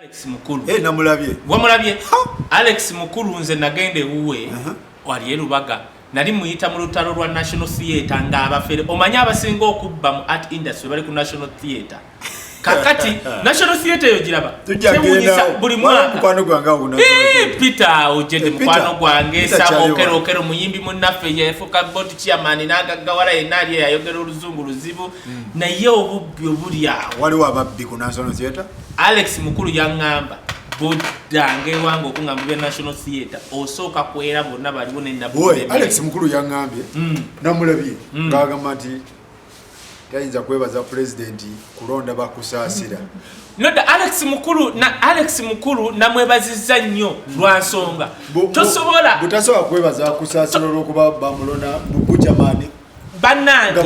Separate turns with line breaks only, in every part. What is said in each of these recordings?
Alex Mukulu. Eh, namulabye. Wamulabye? Alex Mukulu nze nagenda ewuwe. Uh -huh. Wali erubaga. Nali muyita mu lutalo lwa National Theatre nga abafere. Omanyi abasinga okubba mu art industry bali ku National Theatre. Kakati National Theatre yo giraba. Tujagenda buli
mwaka. Mukwano gwange awo na. Eh, Peter
ojede eh, mukwano gwange sabo kero kero muyimbi munaffe yefuka bot chairman naga gawara enali yayogera oluzungu luzibu. Mm. Na ye obubbi obuli awo. Wali wababbi ku National
Theatre. Alex mukulu
yangamba bodanga ewange okungamba bya national theatre osooka kwera bonna baliwo nenaalex
mukulu yangambye mm. namulabye mm. ngagamba nti tayinza kwebaza pulezidenti kulonda bakusaasira noda alex
mukulu na alex mukulu namwebaziza nnyo lwansonga tosobola butasobola kwebaza
kusaasira olwokuba bamulona mubujamani banange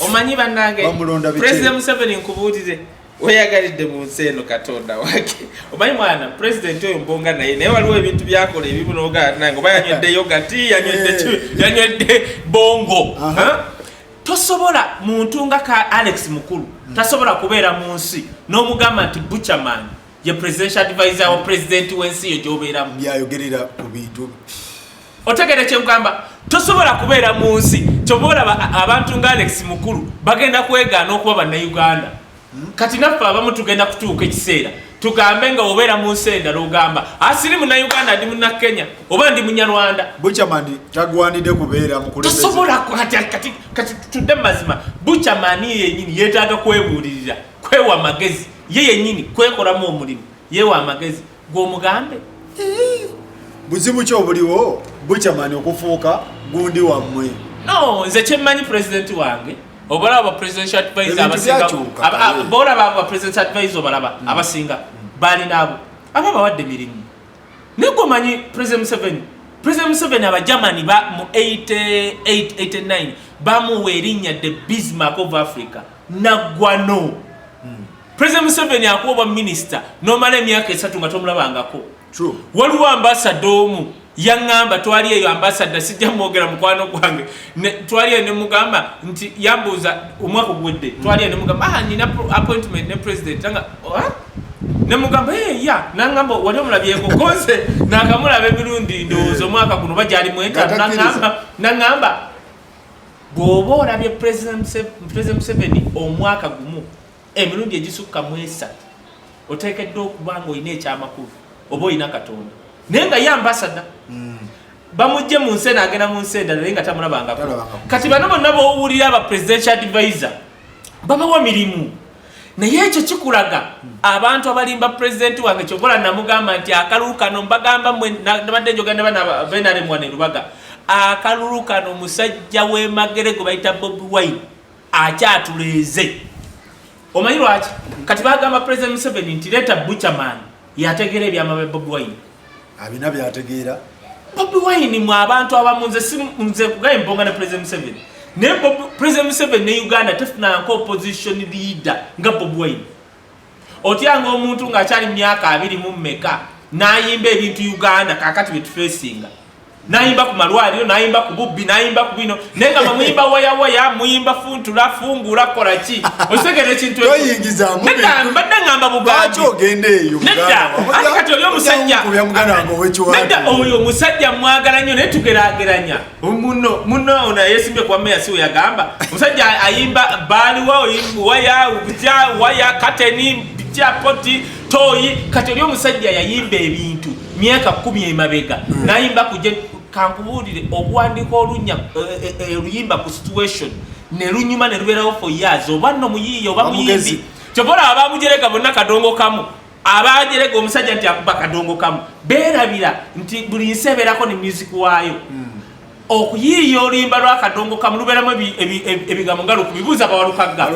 omanyi banange president museveni nkubuulire weyagalidde mu nsi eno katonda wake omanyi mwana pulezidenti oyo mbonga naye naye waliwo ebintu byakola ebimu noganange oba yanywedde eh. yogati yanywedde eh. bongo tosobola muntu nga ka alex mukulu hmm. tasobola kubeera mu nsi n'omugamba nti buchaman ye presidential advisor wa pulezidenti w'ensi yo gyobeeramu byayogerera ku
bintu otegere
kyekugamba tosobola kubeera mu nsi kyoba olaba abantu nga alex mukulu bagenda kwegaana okuba bannauganda kati naffe abamu tugenda kutuuka ekiseera tugambe nga obeera mu nsi endala ogamba asiri ah, munnauganda ndi munnakenya oba ndi munyarwanda buchamani
tagwanidde kubeera mukutosobola
kati tudde mu mazima buchamani yenyini yeetaaga kwebuulirira kwewa magezi ye yenyini kwekolamu omulimu yewa amagezi gwe omugambe
buzibu ki obuliwo bucamani okufuuka gundi wammwe no nze
kyemmanyi pulezidenti wange obalaba ba presidential advisor abasinga bolaba ba presidential advisor obalaba hmm. abasinga balina abo aba bawadde mirimu naye gwe omanyi president museveni president museveni abagermani mu 8889 bamuwa erinnya the bismark of africa naggwano President Museveni akuwa obwa minister nomala emyaka esatu nga tomulabangako. True. Waliwo ambassador omu yangamba twali eyo ambassador sijja mwogera mukwano gwange twali eyo nemugamba nti yambuuza omwaka ogwedde twali eyo nemugamba ah nina appointment ne president nga oh, ah? nemugamba hey, eh, ya nangamba wali omulabyeko konse nakamulaba emirundi ndowooza omwaka guno bajali mwentano nangamba nangamba bwoba olabye president Museveni omwaka gumu Emirundi egisukka mu esatu oteekeddwa okuba ng'olina ekyamakulu oba olina katonda naye nga ye ambasada hmm. bamujje mu nsi eno agenda mu nsi endala naye nga tamulabangako kati bano bonna bowulira aba presidential advisor babawa mirimu naye ekyo kikulaga abantu abalimba pulezidenti wange kyobola namugamba nti akalulu kano mbagamba nabadde njogandabanaremwanerubaga akalulu kano musajja wemagere gwe bayita bobi wine akyatuleeze omanyi lwaki kati bagamba president museveni nti leeta buchaman yategeera ebyama bya bobi wine abina
byategeera bobi wine
mu abantu abamu nze kugaye mbonga ne president museveni naye president museveni ne uganda tefunanka opposition leader nga bobi wine otyanga omuntu ng'akyali mu myaka abiri mu mmeka n'ayimba ebintu uganda kakati bye tufeesinga nayimba ku malwaliro nayimba ku bubbi nayimba ku bino naye nga muyimba wayawaya muyimba funtula fungula kola ki osegera ekintu mbadde
ngamba
bugaanedakati
oli
omusajja oyo omusajja mwagala nnyo naye tugerageranya Muno muno una yesimbe kwa meya siwe ya gamba. Musajja ayimba bali wao waya ukija waya kateni bicha poti toyi kati olyo musajja yayimba ebintu myaka 10 emabega. Mm. Nayimba kuje kankubulire okuwandika olunya oluyimba eh, eh, eh, ku situation ne lunyuma ne luberawo for years oba no muyiyo oba muyimbi. Chobola abamujereka bonna kadongo kamu. Abaajerega omusajja nti akuba kadongo kamu beerabira nti buli nsi ebeerako ne music waayo hmm. okuyiiya oluyimba lwakadongo kamu lubeeramu ebigambo nga lukubibuuza bawalukagga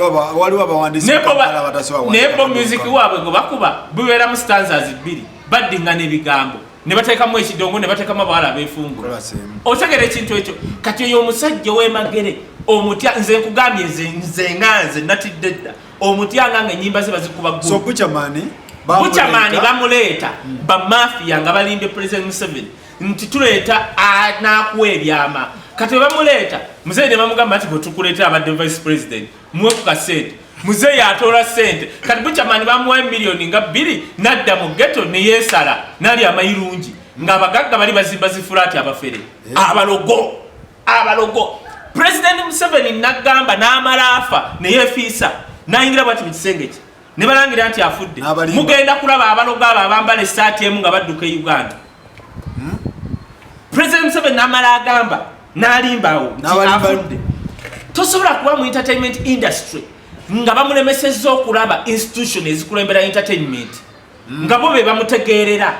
naye
bo music waabwe gwe bakuba bubeeramu stanzas bbiri baddingana ebigambo ne bateekamu ekidongo ne bateekamu abawala abeefungu otegera ekintu ekyo kati oyo omusajja ow'emagere omutya nze nkugambye nze nze nga nze natidde dda omutyanga nga enyimba ze bazikuba so buchamani
buchamani bamuleeta
hmm. bamafiya nga balimbye president museveni nti tuleeta nakuwa ebyama kati webamuleeta muzeeyi ne bamugamba nti bwetukuleetera abadde vice president muwe ku kasente muzeeyi atoola sente kati buchamani bamuwa emiliyoni nga bbiri nadda mu geto neyesala nali amayirungi nga abagagga bali bazimba zifulaati abafere eh. abalogo abalogo president museveni nagamba namala afa neyefiisa nayingira bwati mukisenge kye nebalangira nti afudde mugenda kulaba abalogo abo abambala esaati emu nga badduka e uganda hmm? president museveni namala agamba nalimbawo afudde tosobola kuba mu entertainment industry nga bamulemesezza okulaba institution ezikulembera entertainment hmm. nga bo be bamutegeerera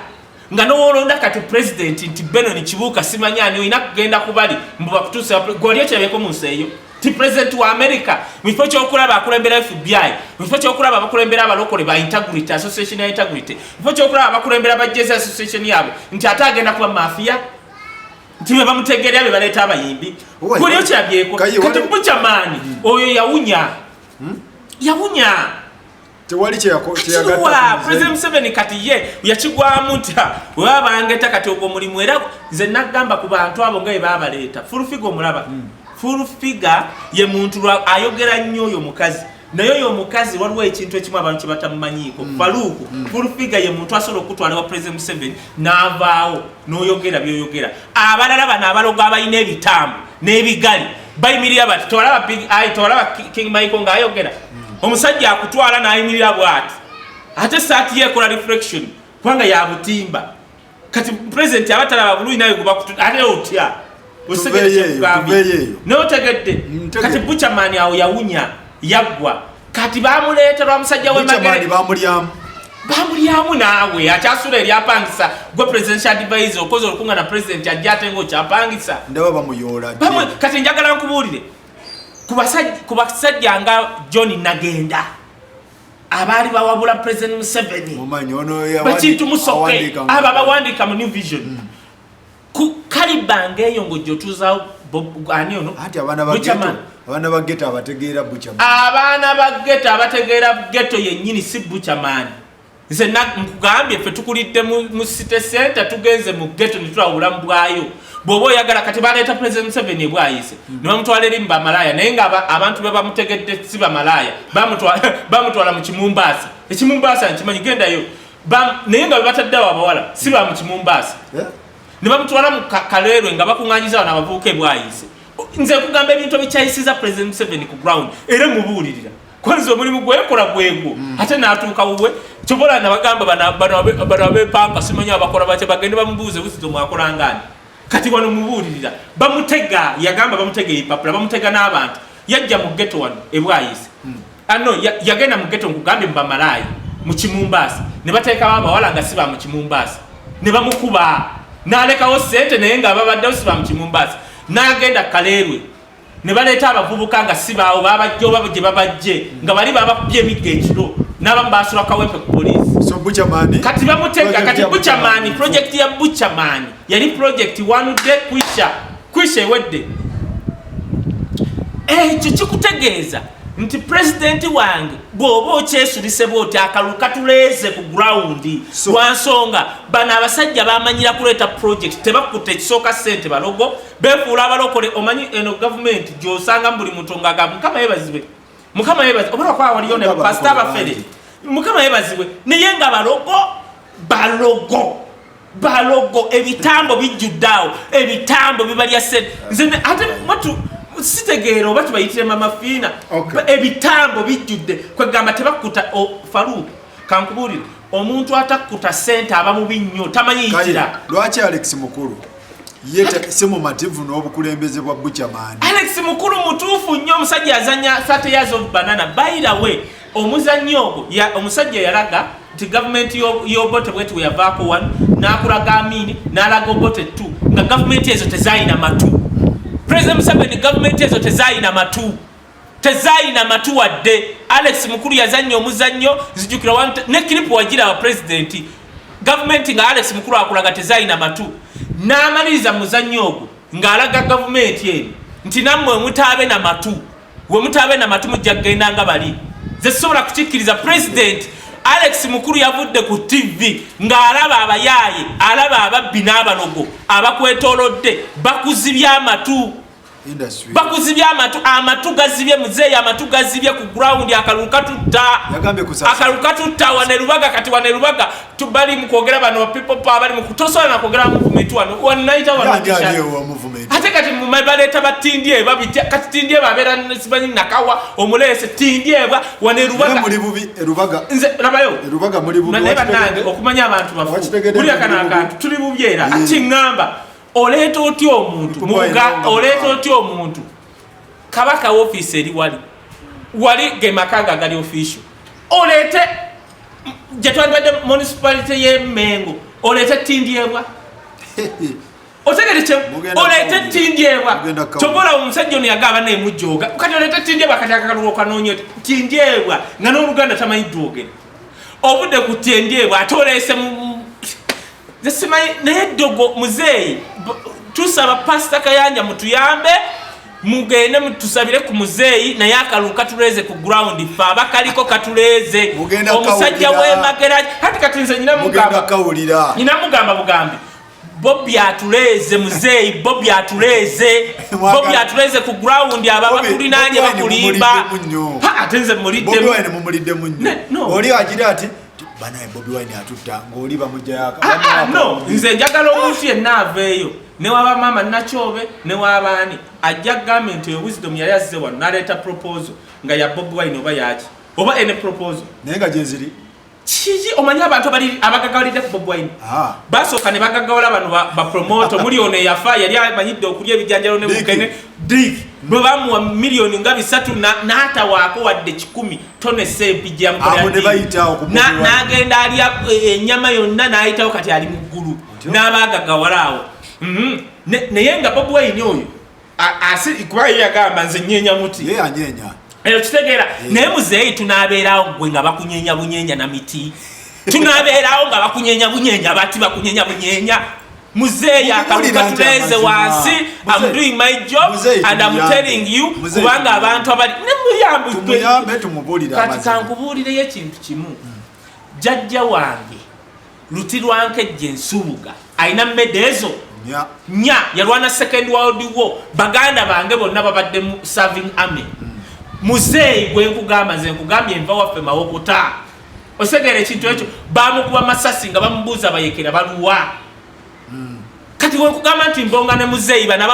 nga nowolonda kati president nti benon kibuuka simanyani olina kugenda kubali mbubakutusa gwali okirabeko mu nsi eyo ti president wa america mukifo kyokulaba akulembera fbi mukifo kyokulaba abakulembera abalokole ba integrity association ya integrity mukifo kyokulaba abakulembera ba jesi association yabo nti ate agenda kuba mafia nti bebamutegerea bebaleeta abayimbi gwali okirabyeko kati bucamani hmm. oyo yawunya hmm? yawunya tewali
kyeyagatapulezidenti museveni
kati ye yakigwamu nti weba bangeta kati ogwo mulimu era nze nagamba ku bantu abo nga bebabaleeta fulfiga omulaba hmm. fulfiga ye muntu ayogera nnyo oyo mukazi naye oyo omukazi waliwo ekintu ekimu abantu kyebatamumanyiiko hmm. faluuku hmm. fulfiga ye muntu asobola okutwala wa pulezidenti museveni n'avaawo noyogera byoyogera abalala bano abalogo abalina ebitambo n'ebigali bayimirira bati tewalaba big eye tewalaba king michael ng'ayogera hmm. omusajja akutwala n'ayimirira bwati ate saati ye ekola reflection kubanga yabutimba kati president abatalaba bulungi naye gubakutu ate otya notegedde kati buchamani awo yawunya yaggwa kati bamuleeta lwa musajja wemagere bamulyamu naawe akyasula eryapangisa gwe presidential advisor okoze olukunga na president ajja ate nga okyapangisa
kati njagala
nkubuulire ku basajja nga john nagenda abaali bawabula president museveni bakintu musoke abo abawandiika mu new vision mm. kalibanga eyo ngaojotuzawo ani ono abaana
ba geto abategeera buchaman abaana ba
geto abategeera geto yennyini si buchaman nze nkugambye ffe tukulidde mu city center tugenze mu geto netulawula mu bwayo bwoba oyagala kati baleeta president museveni ebwayise hmm. nebamutwala eri mu bamalaaya naye nga abantu bebamutegedde si bamalaaya bamutwala mu kimumbaasa ekimumbaasa nkimanyi gendayo naye nga bebatadde awo abawala si ba mukimumbaasa eh? ne bamutwala mu kaleerwe nga bakuŋanyiza wano abavubuka ebwayise nze kugamba ebintu ebikyayisiza president museveni ku ground era mubuulirira kwanza omulimu gwekola gwegwo hmm. ate natuuka wuwe kyobola nabagamba bano abepampa simanyi abakola batya bagende bamubuuze buzizo mwakolangani kati wano mubuulirira bamutega yagamba bamutega ebipapula bamutega n'abantu yajja mu geto wano ebwayise hmm. Ano ah, yagenda mu ghetto nkugambye mu bamalaaya mu Kimumbaasa ne bateekawo abawala nga si ba mu Kimumbaasa ne bamukuba n'alekawo ssente naye nga babaddewo si ba mu Kimumbaasa n'agenda Kaleerwe ne baleeta abavubuka nga si baawo babajja oba gye babajje nga bali babakubye emigga ekiro n'abamu baasula kawempe ku poliisi kati bamutega kati buchamani projekiti ya buchamani yali projekiti wanudde kwisha kwisha ewedde ekyo kikutegeeza nti pulezidenti wange bw'oba okyesulise bwoti akalulu katuleeze ku gurawundi lwa nsonga bano abasajja bamanyira kuleeta pulojekiti tebakutte ekisooka ssente balogo befuula abalokole omanyi eno gavumenti gy'osangamu buli muntu ngaga mukama yebazibe mukama yebazibe oba lwakuba waliyo ne bapasita abafere mukama yebazibwe naye nga balogo balogo balogo ebitambo bijjudde awo ebitambo bibalya sente nze ate watu sitegeera oba tubayitire mama fiina ebitambo bijjudde kwegamba tebakkuta faluuku kankubuulire omuntu atakkuta sente aba mubi nnyo tamanyiyitira lwaki alex
mukulu ye si mumativu n'obukulembeze bwa bucamani alex mukulu
mutuufu nnyo omusajja azanya 30 years of banana by the way omuzannyo ogwo omusajja yalaga nti gavumenti y'obote bweti bwe yavaako wanu n'akulaga amiini n'alaga obote ttu nga gavumenti ezo tezaalina matu pulezida museveni gavumenti ezo tezaalina matu tezaalina matu wadde alex mukulu yazannya omuzannyo zijukira ne kiripu wagirawa pulezidenti gavumenti nga alex mukulu akulaga tezaalina matu n'amaliriza muzannyo ogwo ng'alaga gavumenti eno nti nammwe mutaabe na matu wemutaabe namatu mujja kugenda nga bali ze sisobola kukikkiriza pulezidenti alex mukulu yavudde ku ttivi ng'alaba abayaaye alaba ababbi n'abalogo abakwetolodde bakuzibye amatu
bakuzibye amatu
amatu gazibye muzeeyi amatu gazibye ku gurawundi akalulu katutta akalulu katutta wanerubaga kati wanerubaga tubali mukwogera bano people power bali mukutosola na kwogera muvumenti wano wanaita
ate kati
baleeta batindye babitya kati tindye babeera simanyi nakawa omuleese tindyebwa wane lubaga
nze labayo
naye
banange okumanya
abantu bafuulira kana akantu tuli bubi era mm. ati ŋŋamba oleeta otya omuntu oleeta otya omuntu kabaka wofiisi eri wali wali gemakaga agali official oleete gyetwandibadde municipality ye mengo oleete tindyebwa otegerekye oleete tindyebwa kyova olaba omusajja ono yagaba naye mujooga kati oleete tindyebwa kati akakalunga okanoonyo tindyebwa nga n'oluganda tamanyi dwogere obudde ku tindyebwa ate oleese zesimanyi naye ddogo muzeeyi tusaba pasita kayanja mutuyambe mugende mutusabire ku muzeeyi naye akalulu katuleeze ku ground fe abakaliko katuleeze omusajja wemagera kati kati nze nyinamugamba bugambi bobi atuleeze muzeeyi bobi atuleeze bobi atuleeze ku ground aba bakulinaanye bakulimba ate nze
muliddemuli agira ati banaye bobi wine atutta ngaoli bamujayaka ah, ah, nze njagala
omuntu yenna aveeyo newaba maama nakyobe newabaani ajja gambe nti oyo wisdom yali azze wano naleeta proposal nga ya bobi wine oba yaki oba ene proposal naye nga gyeziri
kiki omanyi
abantu abagagawalidde ku bobi wine ah. basooka ne bagagawala bano bapromoto muli ono eyafa yali amanyidde okulya ebijanjalo ne mukene dik bwe bamuwa miliyoni nga bisatu n'atawaako wadde kikumi tonesa empijamnagenda alya enyama eh, yonna n'ayitawo kati ali mu ggulu n'abaagagawala awo mhm. naye nga bobi wayini oyo kuba ye yagamba nze nyenya muti
eyo kitegeera
naye muzeeyi tunaabeerawo gwe nga bakunyenya bunyenya na miti tunabeerawo nga bakunyenya bunyenya bati bakunyenya bunyenya muzeeyi akaluka tuleeze wansi am doing my job and am telling you kubanga abantu abali nemuyambekati
kankubuulireyo
ekintu kimu jajja wange Luti Lwankejje Nsubuga alina mmeda ezo nya yalwana second world war baganda bange bonna babadde mu serving army hmm. muzeeyi gwe nkugamba nze nkugambye nva waffe mawokuta osegeera ekintu ekyo bamukuba masasi nga bamubuuza bayekera baluwa kati wekugamba nti mbonga ne muzeeyi bano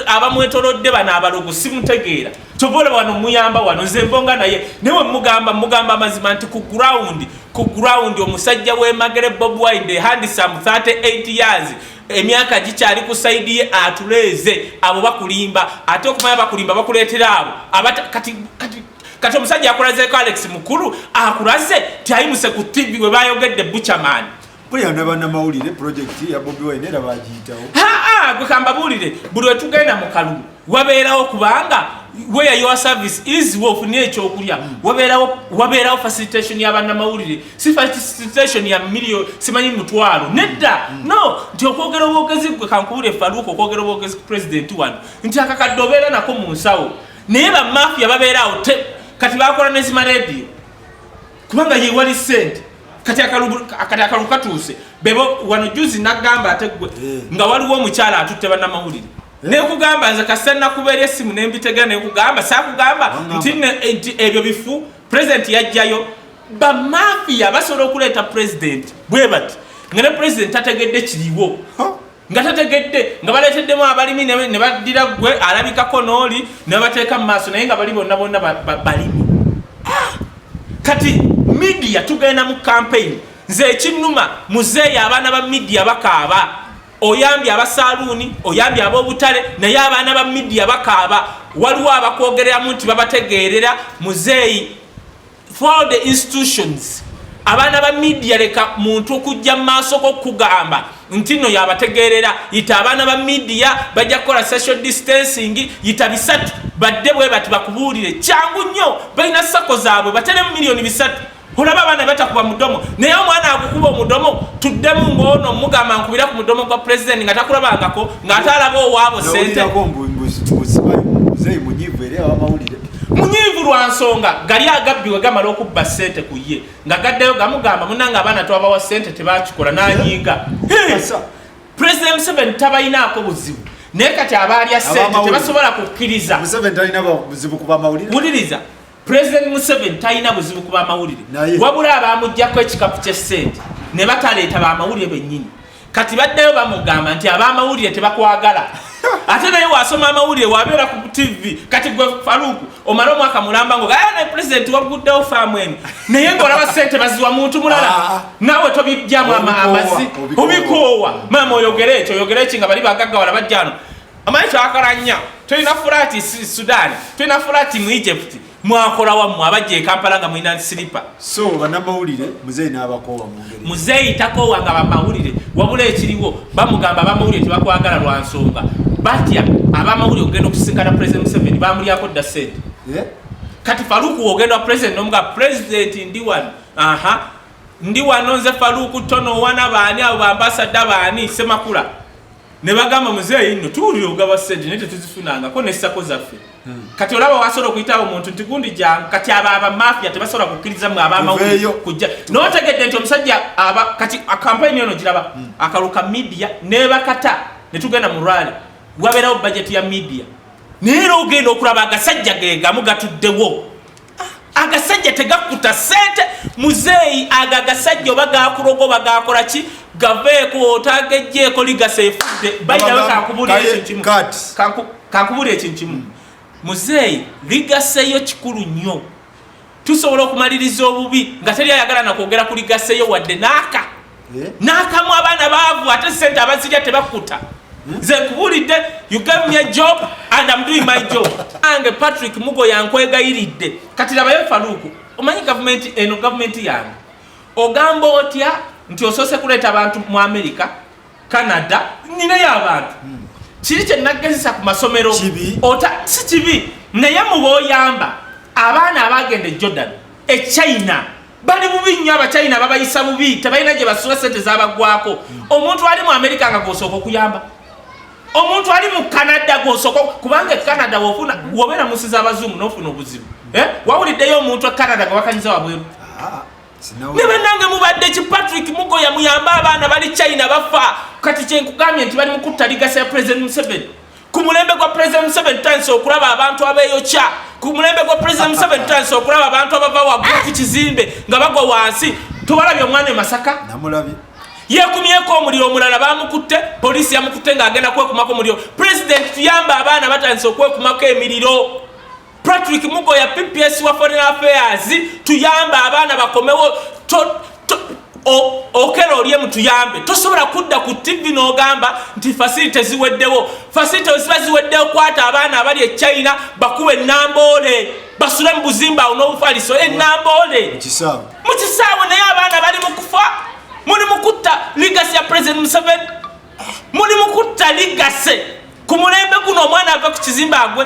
abamwetolodde bano abalogo simutegeera kyova olaba wano muyamba wano nze mbonga naye naye mugamba mugamba amazima nti ku ground ku ground omusajja wemagere bob wine the handsome 38 years emyaka gikyali ku saidi ye atuleeze abo bakulimba ate okumanya bakulimba bakuleetera abo kati kati omusajja akulazeeko alex mukulu akulaze tyayimuse ku tv webayogedde buchaman Buriya
n'abanamawulire pulojekiti ya Bobi Wine era bagiyitawo. Haa gwe kambabuulire
buli wetugenda mu kalulu wabeerawo kubanga where your service is wofunye ekyokulya hmm. wabeerawo wabeerawo facilitation ya bannamawulire si facilitation ya million simanyi mutwalo hmm. nedda hmm. no nti okwogera obwogezi gwe kankubule faluuka okwogera obwogezi ku pulezidenti wano nti akakadde obeera nako mu nsawo naye bamafia babeeraawo kati bakola nezima rediyo kubanga ye wali sente kati akalulu katuuse bebo wano juzi nagamba ate gwe eh. nga waliwo omukyala atutte banamawulire eh. nekugamba nze kasita nakubeera esimu nembitega nekugamba sakugamba nti ebyo bifu president yajjayo bamafiya basobola okuleeta president bwe bati nga ne president tategedde kiriwo nga tategedde nga baleeteddemu abalimi ne baddira ggwe alabikako n'oli ne babateeka mu maaso naye nga bali bonna bonna balimi ah! kati midiya tugenda mu kampeyini nze ekinnuma muzeeyi abaana ba midiya bakaaba oyambye abasaluuni oyambye ab'obutale naye abaana ba midiya bakaaba waliwo abakwogereramu nti babategeerera muzeeyi throughout the institutions abaana ba midia leka muntu okujja mu maaso gokugamba nti no yabategeerera yita abaana ba midia bajja kukola social distancing yita bisatu badde bwe bati bakubuulire kyangu nnyo balina sako zaabwe bateremu miliyoni bisatu olaba abaana batakuba mudomo naye omwana agukuba omudomo tuddemu ngoono mugamba nkubira ku mudomo gwa pulezidenti nga takulabangako ng'ate alaba owaabo sente munyiivu lwa nsonga gali agabbi we gamala okubba ssente ku ye nga gaddayo gamugamba munanga abaana twabawa ssente tebakikola n'anyiiga pulezida museveni tabalinaako buzibu naye kati abaalya ssente tebasobola kukkiriza
wuliriza
pulezidenti museveni talina buzibu ku bamawulire wabula abaamugjako ekikapu ky'essente ne bataleeta bamawulire bennyini kati baddeyo bamugamba nti abamawulire tebakwagala ate naye wasoma amawulire wabeera ku tv kati gwe faluku omala omwaka mulamba ngo gaa ah, naye pulezidenti waguddewo faamu eno naye ngaolaba sente baziwa muntu mulala ah, ah. naawe tobijjamu amazi obikoowa maama oyogere ekyo oyogere eki nga bali bagaggawala bajjano amanyi kyakalanya tolina fulaati sudaani tolina fulaati mu egypti mwakolawa mwe abajja ekampala nga mulina silipa so banamawulire
muzeeyi n'abakoowa muzeeyi takoowa nga
bamawulire wabula ekiriwo bamugamba abamawulire tebakwagala lwa nsonga batya abamawulire okugenda okusinkana president museveni bamulyako dda sente eh? kati faluku ogenda president nomuga president ndi wano aha ndi wano nze faluku tono wana baani abo bambasadda baani semakula ne bagamba muzeeyi nno tuwulira ogaba sente naye tetuzifunangako ne ssako zaffe hmm. kati olaba wasobola okuyitawo omuntu nti gundi jangu kati abo abamafiya tebasobola kukkiriza mwe abamawulire kujja notegedde nti omusajja kati akampayini yono giraba hmm. akalu ka midiya nebakata ne tugenda mu rwali wabeerawo bajeti ya midiya naye era ogenda okulaba agasajja gegamu gatuddewo agasajja tegakuta sente muzeeyi ago agasajja oba gakuloga oba gakola ki gaveeko otagejjeeko ligasa efudde bayirawe kankubulira ekintu kimu kankubulira ekintu kimu muzeeyi ligaseyo kikulu nnyo tusobola okumaliriza obubi nga teri ayagala nakwogera ku ligaseyo wadde naaka eh? nakamu abaana baavu ate sente abazirya tebakkuta hmm? nze nkubulidde you gave me a job and am doing my job ange patrick mugo yankwegayiridde kati labayo faluuku omanyi gavumenti eno gavumenti yange ogamba otya nti osoose kuleeta abantu mu america canada ninayo abantu hmm. kiri kyenagezesa ku masomero si kibi naye mubaoyamba abaana abagenda e jordan e china bali bubi nnyo abachina babayisa bubi tebalina gye basula sente zabagwako omuntu ali mu amerika nga gwosooka okuyamba omuntu ali mu canada gwosooka kubanga ecanada wofuna wobeera munsi zabazungu nofuna obuzibu eh? wawuliddeyo omuntu ecanada gwewakanyiza wabweru ah, ne banange mubadde ki patrick mugoya muyambe abaana bali china bafa kati kyenkugambye nti bali mukuttaligasa ya president museveni ku mulembe gwa pulezida museveni tutandise okulaba abantu abeeyokya ku mulembe gwa pulezida museveni tutandise okulaba abantu abava waggulu ku kizimbe nga bagwa wansi tewalabye omwana e masaka
yekumyeko
omuliro omulala bamukutte poliisi yamukutte ng'agenda kwekumako omuliro pulezidenti tuyamba abaana batandise okwekumako emiriro Patrick Mugoya PPS wa Foreign Affairs tuyambe abaana bakomewo okera olye mutuyambe tosobola kudda ku tv n'ogamba nti fasilite ziweddewo fasilite ziba ziweddewo kwata abaana abali e china bakuba enamboole basule mu buzimba awo n'obufaliso enamboole mu kisaawe naye abaana bali mu kufa muli mu kutta ligasi ya president museveni muli mu kutta ligase ku mulembe guno omwana ave ku kizimba agwe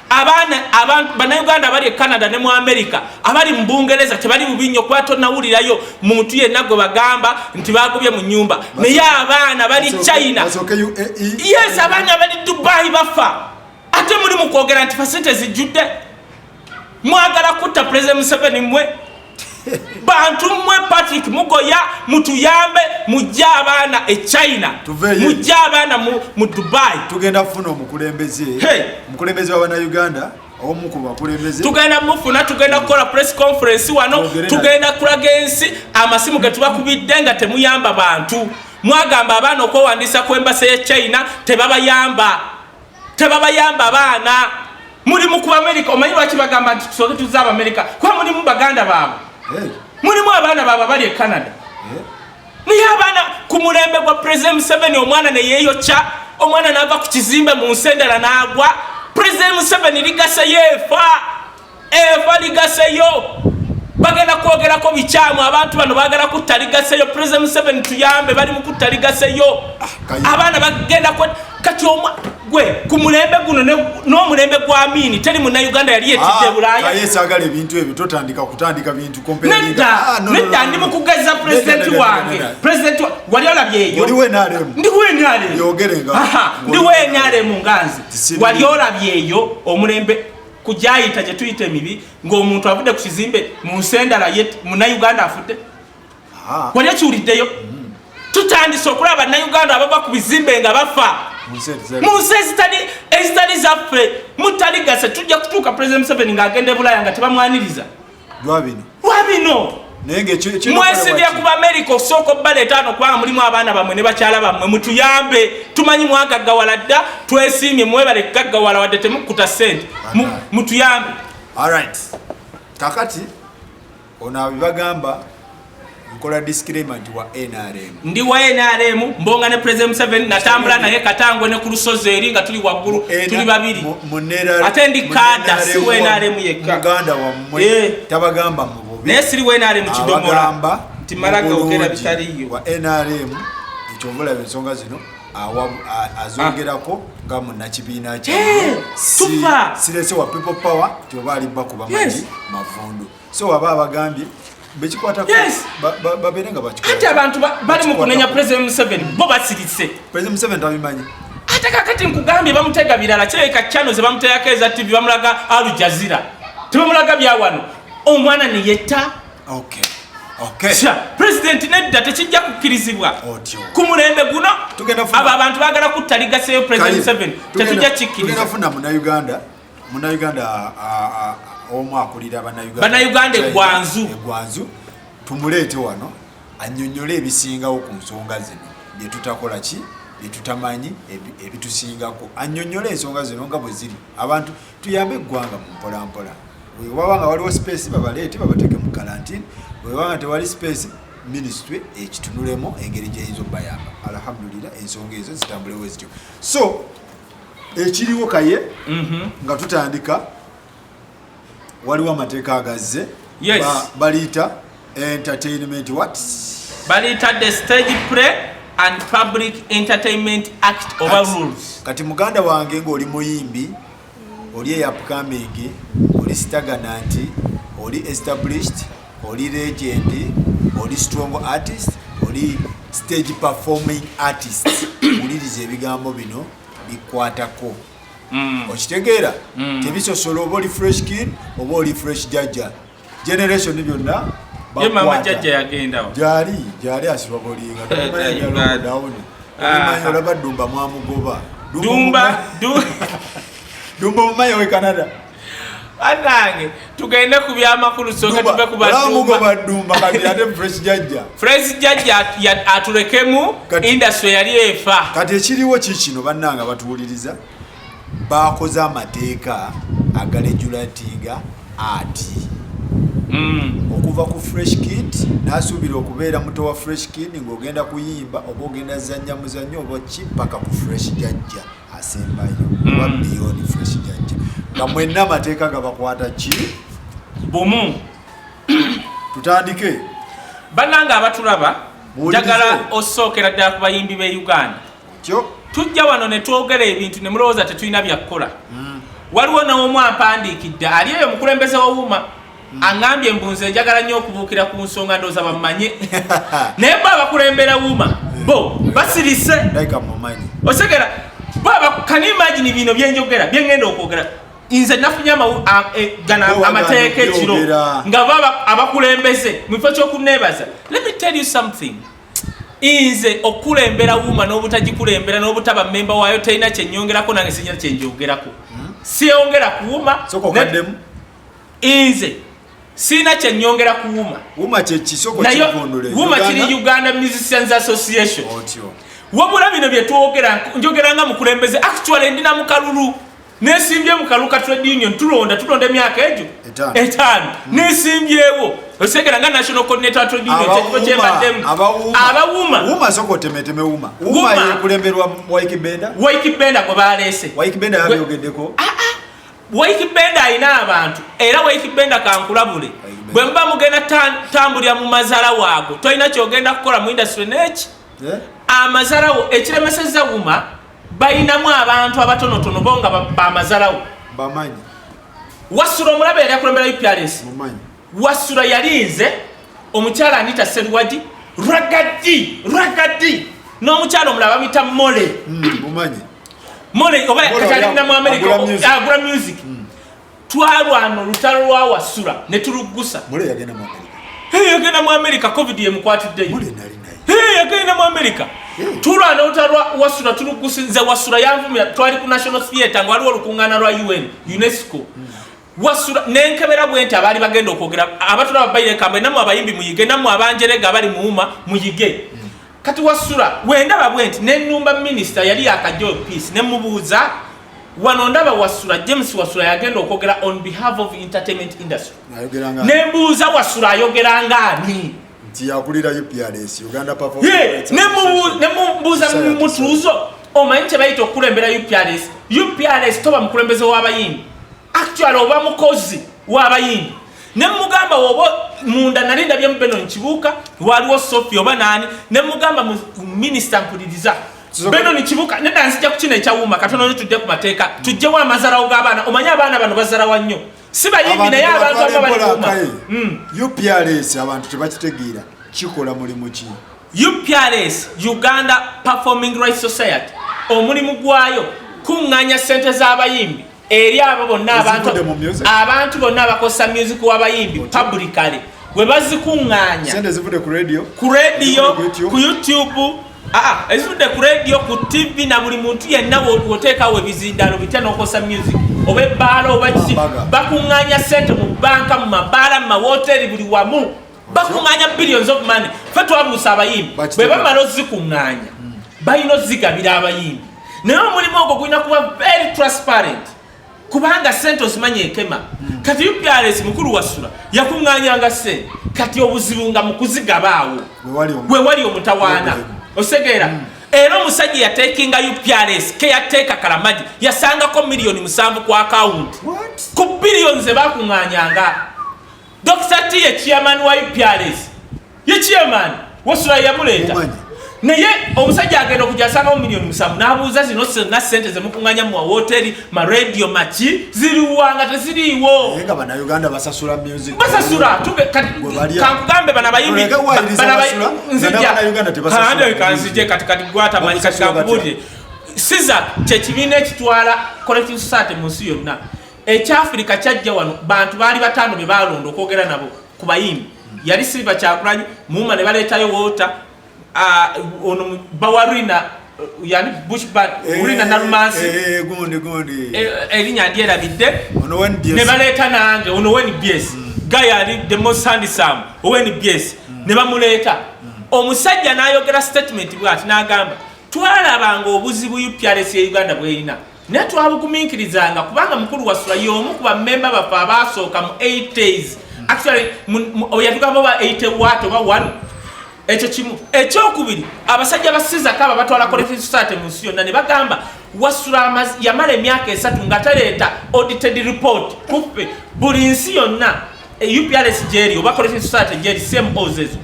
abaana bannayuganda abali e canada ne mu america abali mu bungereza tebali bubi nnyo kuba tonawulirayo muntu yenna gwe bagamba nti bagobye mu nyumba naye abaana bali china yes abaana bali dubai bafa ate muli mu kwogera nti fasente zijjudde mwagala kutta president museveni mwe bantu mwe patrick mugoya mutuyambe mujje abaana e china mujje abaana mu dubai tugenda kufuna
omukulembeze omukulembeze wa banauganda tugenda mufuna tugenda
kukola press conference wano tugenda kulaga ensi amasimu getubakubidde nga temuyamba bantu mwagamba abaana okwewandiisa ku embasa ye china tebabayamba tebabayamba abaana muli mukuba amerika omanyi lwaki bagamba nti tusooke tuzze abamerika kuba mulimu baganda baabwe mulimu abaana baabwe abali e canada naye abaana ku mulembe gwa president museveni omwana neyeyokya omwana naava ku kizimbe mu nsi endala naagwa president museveni ligasa yeefa eva ligaseyo bagenda kwogerako bikyamu abantu bano bagala kutta ligaseyo president museveni tuyambe bali mukutta ligaseyo ah, abaana bagenda kati omwa gwe ku mulembe guno n'omulembe gwa miini teri mu nauganda yali yetidde ah, bulayaesagala ebintu ebyo
totandika kutandika bintu nedda ah, nedda
ndi mukugeza pulezidenti wange pulezidenti wali olabyeyo ndi
wenaremu
nganzi wali olabyeyo omulembe kugyayita gye tuyita emibi ng'omuntu avudde ku kizimbe mu nsi endala ye munnayuganda afudde ah. wali ekiwuliddeyo mm. tutandise okulaba bannayuganda abava ku bizimbe nga bafa mu nsi ezitali zaffe mutaligase tujja kutuuka president museveni ng'agenda e bulaaya nga tebamwaniriza lwabino lwabino naye ngekyo mwesibye ku bamerica osooka obbala etaano kubanga mulimu abaana bamwe ne bakyala bammwe mutuyambe tumanyi mwagaggawala dda twesiimye mwebale kugaggawala wadde temukukuta ssente mutuyambe alright
kakati ono abibagamba nkola disclaimer nti wa nrm ndi wa nrm
mbonga ne president museveni natambula naye katangwe ne ku lusozi eri nga tuli waggulu tuli babiri ate ndi kaada si wa nrm yekka muganda wammwe
eh. tabagamba mu bubi naye siri wa nrm
kidomola nti malaga ogera bitaliyo wa nrm
ekyovula ensonga zino azongerako nga munakibiina kye eh, sirese wa people power tioba alimba kuba magi mavundu so waba abagambye bekikwatako babeere nga bakikati abantu bali mu kunenya president museveni bo basirise president museveni tabimanyi ate kakati nkugambye bamutega birala kirabika chano zebamuteyako eza tv bamulaga alujazira tebamulaga byawano omwana neyetta okay pulezidenti nedda tekijja kukkirizibwa ku mulembe guno abo abantu bagala kuttaligaseeyo pulezidenti museveni tetujja kikkiriza Munnayuganda omu akulira Bannayuganda eggwanzu eggwanzu tumuleete wano annyonnyole ebisingawo ku nsonga zino bye tutakola ki bye tutamanyi ebitusingako annyonnyole ensonga zino nga bwe ziri abantu tuyambe eggwanga mu mpolampola wewaba nga waliwo sipeesi babaleete babateeke mu kalantini wewaba nga tewali sipeesi ministry ekitunulemu engeri gyeyinza okubayamba alhamdulira ensonga ezo zitambulewezityo so ekiriwo kaye mhm. nga tutandika waliwo amateeka agazze baliyita entertainment wat baliyita
the stage play and public entertainment act oba rules kati muganda wange
ngaoli muyimbi oli eyapkamingi oli sitagana nti oli established oli legend oli strong artist oli stage performing artist wuliriza ebigambo bino bikwatako mm. okitegeera mm. tebisosola oba oli fresh kid oba oli fresh jajja generation byonna
gyali gyali
asibabolinga dawuni olaba dumba mwamugoba dumba dumba mumayi owe canada banange
tugende ku byamakulu soka tuve ku badumba
fresh jajja
aturekemu industry yali efa kati ekiriwo kikino
banange abatuwuliriza bakoze amateeka agalejula ntinga ati mm. okuva ku fresh kid nasuubira okubeera muto wa fresh kid ng'ogenda kuyimba oba ogenda zanya muzanyo oba ki paka ku fresh jajja asembayo mm. oba biyoni fresh jajja nga mwenna amateeka gabakwata ki bumu tutandike
bannanga abatulaba njagala osookera ddala ku bayimbi b'e uganda tujja wano ne twogera ebintu ne mulowooza tetulina byakukola mm. waliwo n'omu ampandiikidde ali eyo mukulembeze wawuma Mm. angambye mbu nze njagala nnyo okubuukira ku nsonga ndooza bammanye naye bo abakulembera wuuma mm. bo basirise otegera can you imagine bino byenjogera byengenda okwogera nze nafunye e, gana amateeka ekiro nga baba abakulembeze mu kifo kyokuneebaza let me tell you something inze okukulembera wuuma n'obutagikulembera n'obutaba memba waayo terina kyenyongerako nange sinyina kyenjogerako hmm? siyongera kuwuma inze sirina kyenyongera kuwuma wuma kyekisokowuma kiri uganda musicians association wabula bino byetwogera njogera nga mukulembeze actually ndi na mukalulu nesimbye mukaluka trade union tulonda tulonda emyaka egyo etaano hmm. nesimbyewo osegera nga national coordinator trade union kyekifo
kyembaddemu abawumawaikibenda gwe baleese ah, ah. Waikibenda alina abantu era Waikibenda kankulabule bwe muba mugenda tambulira mu mazala waago tolina kyogenda kukola mu industry neki eh? amazalawo ekiremeseza wuma balinamu
abantu abatonotono bo nga bamazalawo
wasula
omulabe yali akulembera upresi Wasula yalinze omukyala Anita Seruwagi ragadi ragadi n'omukyala omulala bamuyita mole hmm,
mole
oba katalinda mu amerika agula music ah, hmm. twalwana olutalo lwa wasula ne tuluggusa
yagenda mu amerika
covid yemukwatiddeyo
yagenda mu amerika
tulwana olutalo lwa wasula tuluggusa nze wasula yanvumira twali ku national theatre nga waliwo olukuŋŋaana lwa un unesco hmm. wasula nenkebera bwenti abaali bagenda okwogera abatula babayirekambe namwe abayimbi muyige namwe abanjerega abali muwuma muyige kati wasula wendaba bwenti nenumba minisita yali yakajo peace nemubuuza wano ndaba wasula james wasula yagenda okwogera on behalf of entertainment industry nembuuza wasula ayogera ngaani nti yakulira
uprs uganda nemubuuza
mutuuzo omanyi kyebayita okukulembera uprs uprs toba mukulembeze w'abayindi actual oba mukozi w'abayindi nemugamba woba munda nali ndabyemu benon kibuuka waliwo sofi oba naani nemugamba mu minisita mpuliriza beno nikibuka neda nzija kukino ekyawuma katono nyo tujje ku mateeka tujjewo amazarawo g'abaana omanye abaana bano bazarawa nnyo si bayimbi naye abantu abamu balikuuma hmm. uprs
abantu tebakitegeera kikola mulimu ki uprs
uganda performing right society omulimu gwayo kuŋŋanya ssente z'abayimbi eri abo bonna abantu abantu bonna abakozesa music w'abayimbi publicale bwe bazikuŋŋanya ku radio
ku
youtube Ah, ezudde ku radio ku tv na buli muntu yenna woteekawo ebizindalo bitya nokosa music oba ebbaala oba kiki bakuŋŋanya sente mu banka mu mabaala mu mawoteeri buli wamu bakuŋŋanya billions of money fe twabuusa abayimbi bwe bamala ozikuŋŋanya balina ozigabira abayimbi naye omulimu ogwo gulina kuba very transparent kubanga sente ozimanyi ekema hmm. kati uprs mukulu wasula yakunganyanga sente kati obuzibu nga mukuzigabaawo wewali omutawaana osegeera hmm. era omusajja yatekinga uprs keyateeka kalamagi yasangako miliyoni musanvu ku akawunti ku biliyoni zebakunganyanga Dr. T ye chairman wa UPRS. Ye chairman wasula yamuleeta. Naye omusajja agenda okujasanga mu milioni musanvu n'abuuza zino zonna ssente ze mukunganya mu wawoteri ma radio maki ziriwanga teziriiwo. Nga bannayuganda
basasula music. Basasula tube
kankugambe bana bayimbi nzija kaande kanzije kati kati gwata manyi kati kankubulire. Siza kye kibiina ekitwala collective society mu nsi yonna. ekyafirika kyajja wano bantu baali bataano be baalonda okwogera nabo ku bayimbi yali silva kyakulanyi muuma ne baleetayo woota ono bawarina yani bushbad eh, urina nalumansi eh, eh,
erinya
ndyerabidde ne baleeta nange ono weni bs mm. guy ali the most handsome oweni bs mm. ne bamuleeta mm. omusajja n'ayogera statement bwati n'agamba twalabanga obuzibu uprs ya uganda bwerina naye twabuguminkirizanga kubanga mukulu wasula y'omu ku bamemba baffe abaasooka mu 80s actually oyatugamba oba 80 wat oba 1 ekyo kimu ekyokubiri abasajja basizako abo batwala collective society mu nsi yonna ne bagamba wasula yamala emyaka esatu nga taleeta audited report kuffe buli nsi yonna e uprs jeri oba collection society jeri same ozezo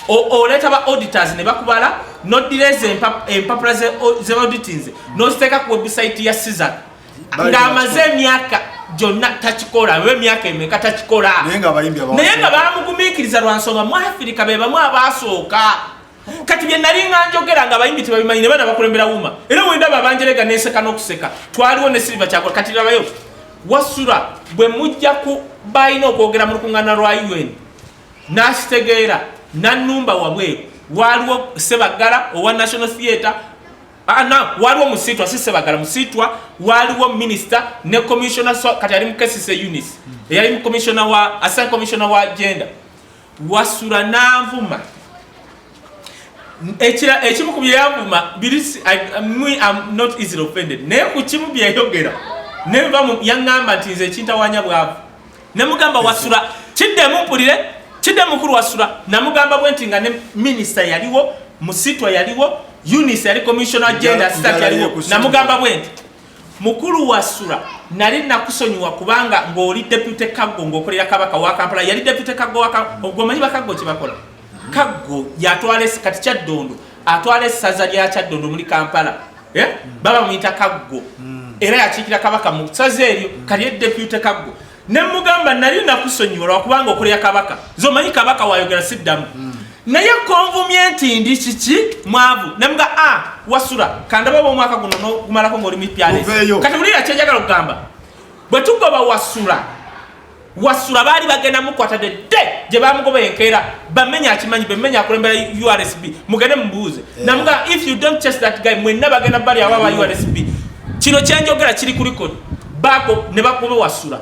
oleeta ba auditors ne bakubala noddira ezo empapula ze auditinze noziteeka ku website ya sizak ng'amaze emyaka gyonna takikola oba emyaka emeka takikola naye nga bamugumiikiriza lwa nsonga mu afirika be bamu abaasooka kati bye nali nga njogera nga abayimbi tebabimanyi ne baana bakulembera wuma era wendaba abanjerega nenseka n'okuseka twaliwo ne silva kyakola kati labayo wasula bwe mujja ku balina okwogera mu lukuŋŋaana lwa un n'akitegeera nanumba wabweru waliwo sebaggala owa national theatre ah, na waliwo musiitwa si sebaggala musiitwa waliwo minisita ne commissiona kati ali mu kesise unis eyali mu commissiona wa asan commissiona wa gender Wasula n'anvuma. Ekira ekimu ku byeyavuma biri me am not easily offended naye ku kimu byeyogera ne nva mu yaŋŋamba nti nze ekintawanya bwavu ne mugamba wasula kiddemu mpulire kidde mukulu wasula namugamba bwe nti nga ne minisita yaliwo musitwa yaliwo unis yali commissioner gender stat yaliwo namugamba bwe nti mukulu wa sura nali nakusonyiwa kubanga ng'oli depute kaggo ng'okolera kabaka wa kampala yali depute kaggo ogwomanyi bakaggo kyebakola kaggo yatwala kati kyaddondo atwala essaza lya kyaddondo omuli kampala eh? baba muyita kaggo hmm. era yakiikira kabaka mu saza eryo kali edepute kaggo ne mugamba nali nakusonyiwa lwakubanga okulya kabaka nze omanyi kabaka wayogera siddamu mm. naye konvumye nti ndi kiki mwavu nemuga a ah, wasula kandaba oba omwaka guno nogumalako ngaoli mupyaleso kati wulira kyenjagala okugamba bwe tugoba wasula wasula baali bagenda mukwata de de gye bamugoba enkeera bamenya akimanyi bemenya akulembera ursb mugende mubuuze eh. namuga if you don't chase that guy mwenna bagenda bali aba ba ursb kino kyenjogera kiri kulikodi bago ne bakuba wasula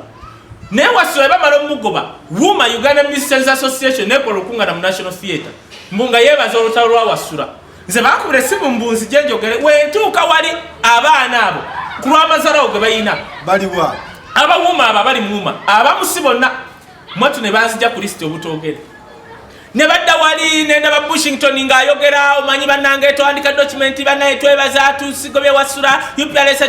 naye wasula bamala omugoba wuma uganda ministers association nekola okungana mu national theatre mbu nga yebaza olutalo lwa wasula nze bakubira esimu mbu nzije njogere wentuuka wali abaana abo ku lwamazalawo ge balina baliwa
abawuma abo
abali muwuma abamusi bonna mwatu ne banzija ku lisiti obutogere ne badda wali nendaba bushington ng'ayogera omanyi bannange twandika dokimenti banaye twebaza tusigobye wasula upls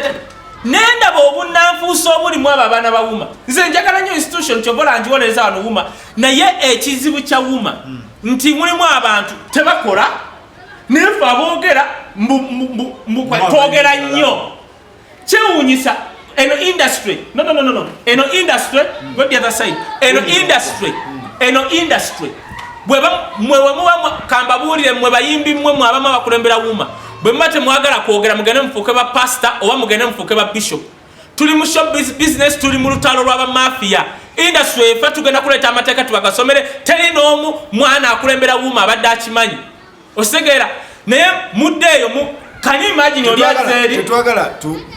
nendaba obunanfuusa obulimu abo abaana bawuma nze njagala nyo institution kyobola njiwolereza wano wuma naye ekizibu kya wuma hmm. nti mulimu abantu tebakola nefe aboogera twogera nnyo kyewunyisa eno industry no no no no eno industry go the other side eno industry eno industry bwe ba mwe we muwa kamba bulire mwe bayimbi mwe mwe abama bakulembera wuma bwe mate mwagala kwogera mugende mfuke ba pastor oba mugende mfuke ba bishop tuli mu shop business tuli mu lutalo lwa ba mafia industry efa tugenda kuleta amateka tubagasomere teri n'omu mwana akulembera wuma abadde akimanyi osegeera naye mudde eyo mu kani imagine oli azeri tetwagala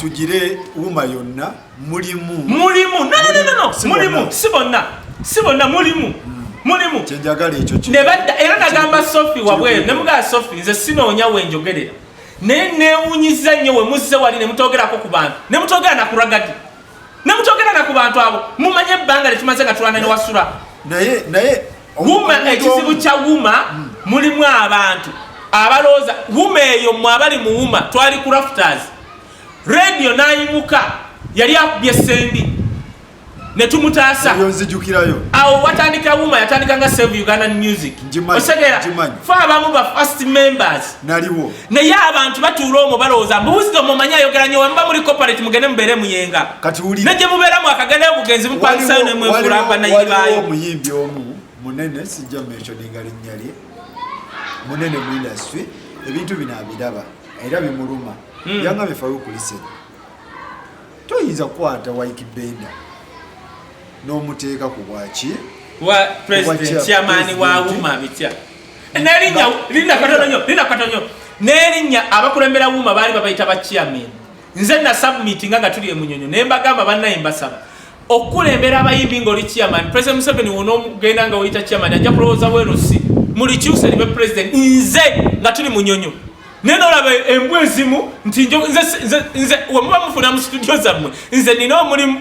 tugire wuma yonna mulimu mulimu no no no
no mulimu si bonna si bonna mulimu hmm. mulimu kyenjagala ekyo
ne badda era nagamba
sofi wabweru ne mugaa sofi nze sinoonya wenjogerera naye newunyiza nnyo we muzze wali ne mutogerako ku bantu ne mutogera na kuragadi ne mutogera na ku bantu abo mumanye ebbanga lyetumaze nga tulana ne wasula naye naye
wuma
ekizibu kya wuma hmm. mulimu abantu abalowooza wuma eyo mwe abali mu wuma twali ku rafters radio nayimuka yali akubye sendi netumutaasa awo
watandika
wuma yatandika nga save ugandan music osegeera fe abamu ba first members naliwo naye
abantu
batuula omwo balowooza mbu wisdom omanyi ayogera nyo wemuba muli corporate mugende mubeere muyenga negye
mubeeramu akagendayo
bugenzi mupangisayo nemwefuula banayibaayo omuyimbi omu
munene sijja mumentioninga linnya lye munene mu industry ebintu bino abiraba era bimuluma hmm. yanga befayo okulisenya toyinza kukwata wike benda n'omuteeka ku bwaki wa
president chairman wa uma bitya nerinnya lirina katono nyo lirina katono nyo nerinnya abakulembera wuuma baali babayita ba chairman nze na submiti nga nga tuli emunyonyo naye mbagamba bannaye mbasaba okukulembera abayimbi ngaoli chairman president museveni wona ogenda nga oyita chairman ajja kulowooza werusi mulikyuse libe president nze nga tuli munyonyo naye nolaba embwa ezimu nti nze wemuba mufuna mu situdio zammwe nze nina omulimu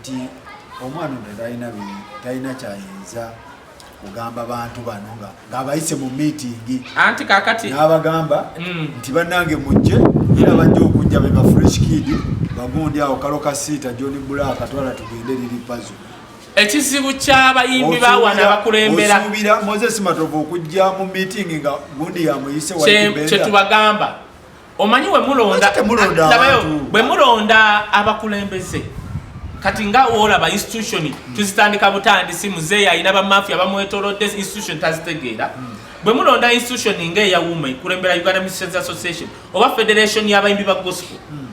nti omwana ono talina talina kyayinza kugamba bantu bano nga ng'abayise mu miitingi anti kakati
n'abagamba mm.
nti bannange mujje era bajja okujja be ba fresh kid bagundi awo kalo kasiita john bulaaka twala tugende liri pazo ekizibu
kyabayimbi bawana bakulembera osuubira moses
matovu okujja mu miitingi nga gundi yamuyise kyetubagamba
omanyi wemulonda abakulembeze kati nga olaba institution tuzitandika butandisi muzeeyi alina bamafia bamwetolodde institution tazitegeera hmm. bwe mulonda institution nga eya wuma ekulembera uganda musicians association oba federation yabayimbi ba gospel hmm.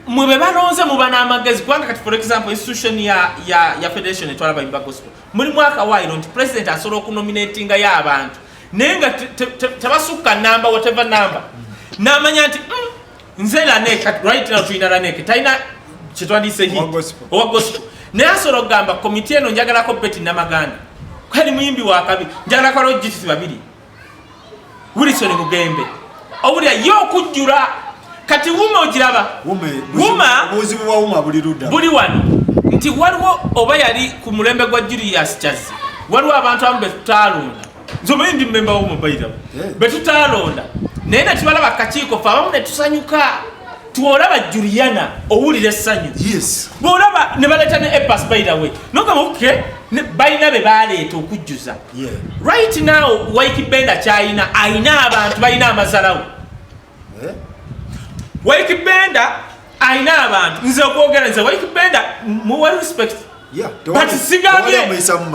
mwe be balonze muba n'amagezi kubanga kati for example institution ya, ya, ya federation etwala bayimbi ba gospel mulimu akawaayiro nti president asobola okunominatinga yo abantu naye nga tebasukka namba wateva namba namanya nti mm, nze lanek right now tulina lanek talina kyetwandiyise hi owa gospel naye asobola okugamba komiti eno njagalako beti namaganda kali muyimbi wakabi njagalako alojitisi babiri wilson mugembe obulya ye okujjula kati wuma ogiraba wuma buli
wano
nti waliwo oba yali
ku
mulembe gwa julius
kyazzi
waliwo abantu amu betutaalonda nzomanyi ndi mmemba womubaira eh. betutaalonda naye netubalaba kakiiko fe abamu netusanyuka twolaba juliana owulira essanyu bwolaba ne baleeta ne epas bairawe nogamba oke balina be baleeta okujjuza yeah. right now waiki benda kyayina ayina abantu balina amazalawo yeah. waiki benda ayina abantu nze okwogera nze waiki benda muwa respect yeah, but sigambye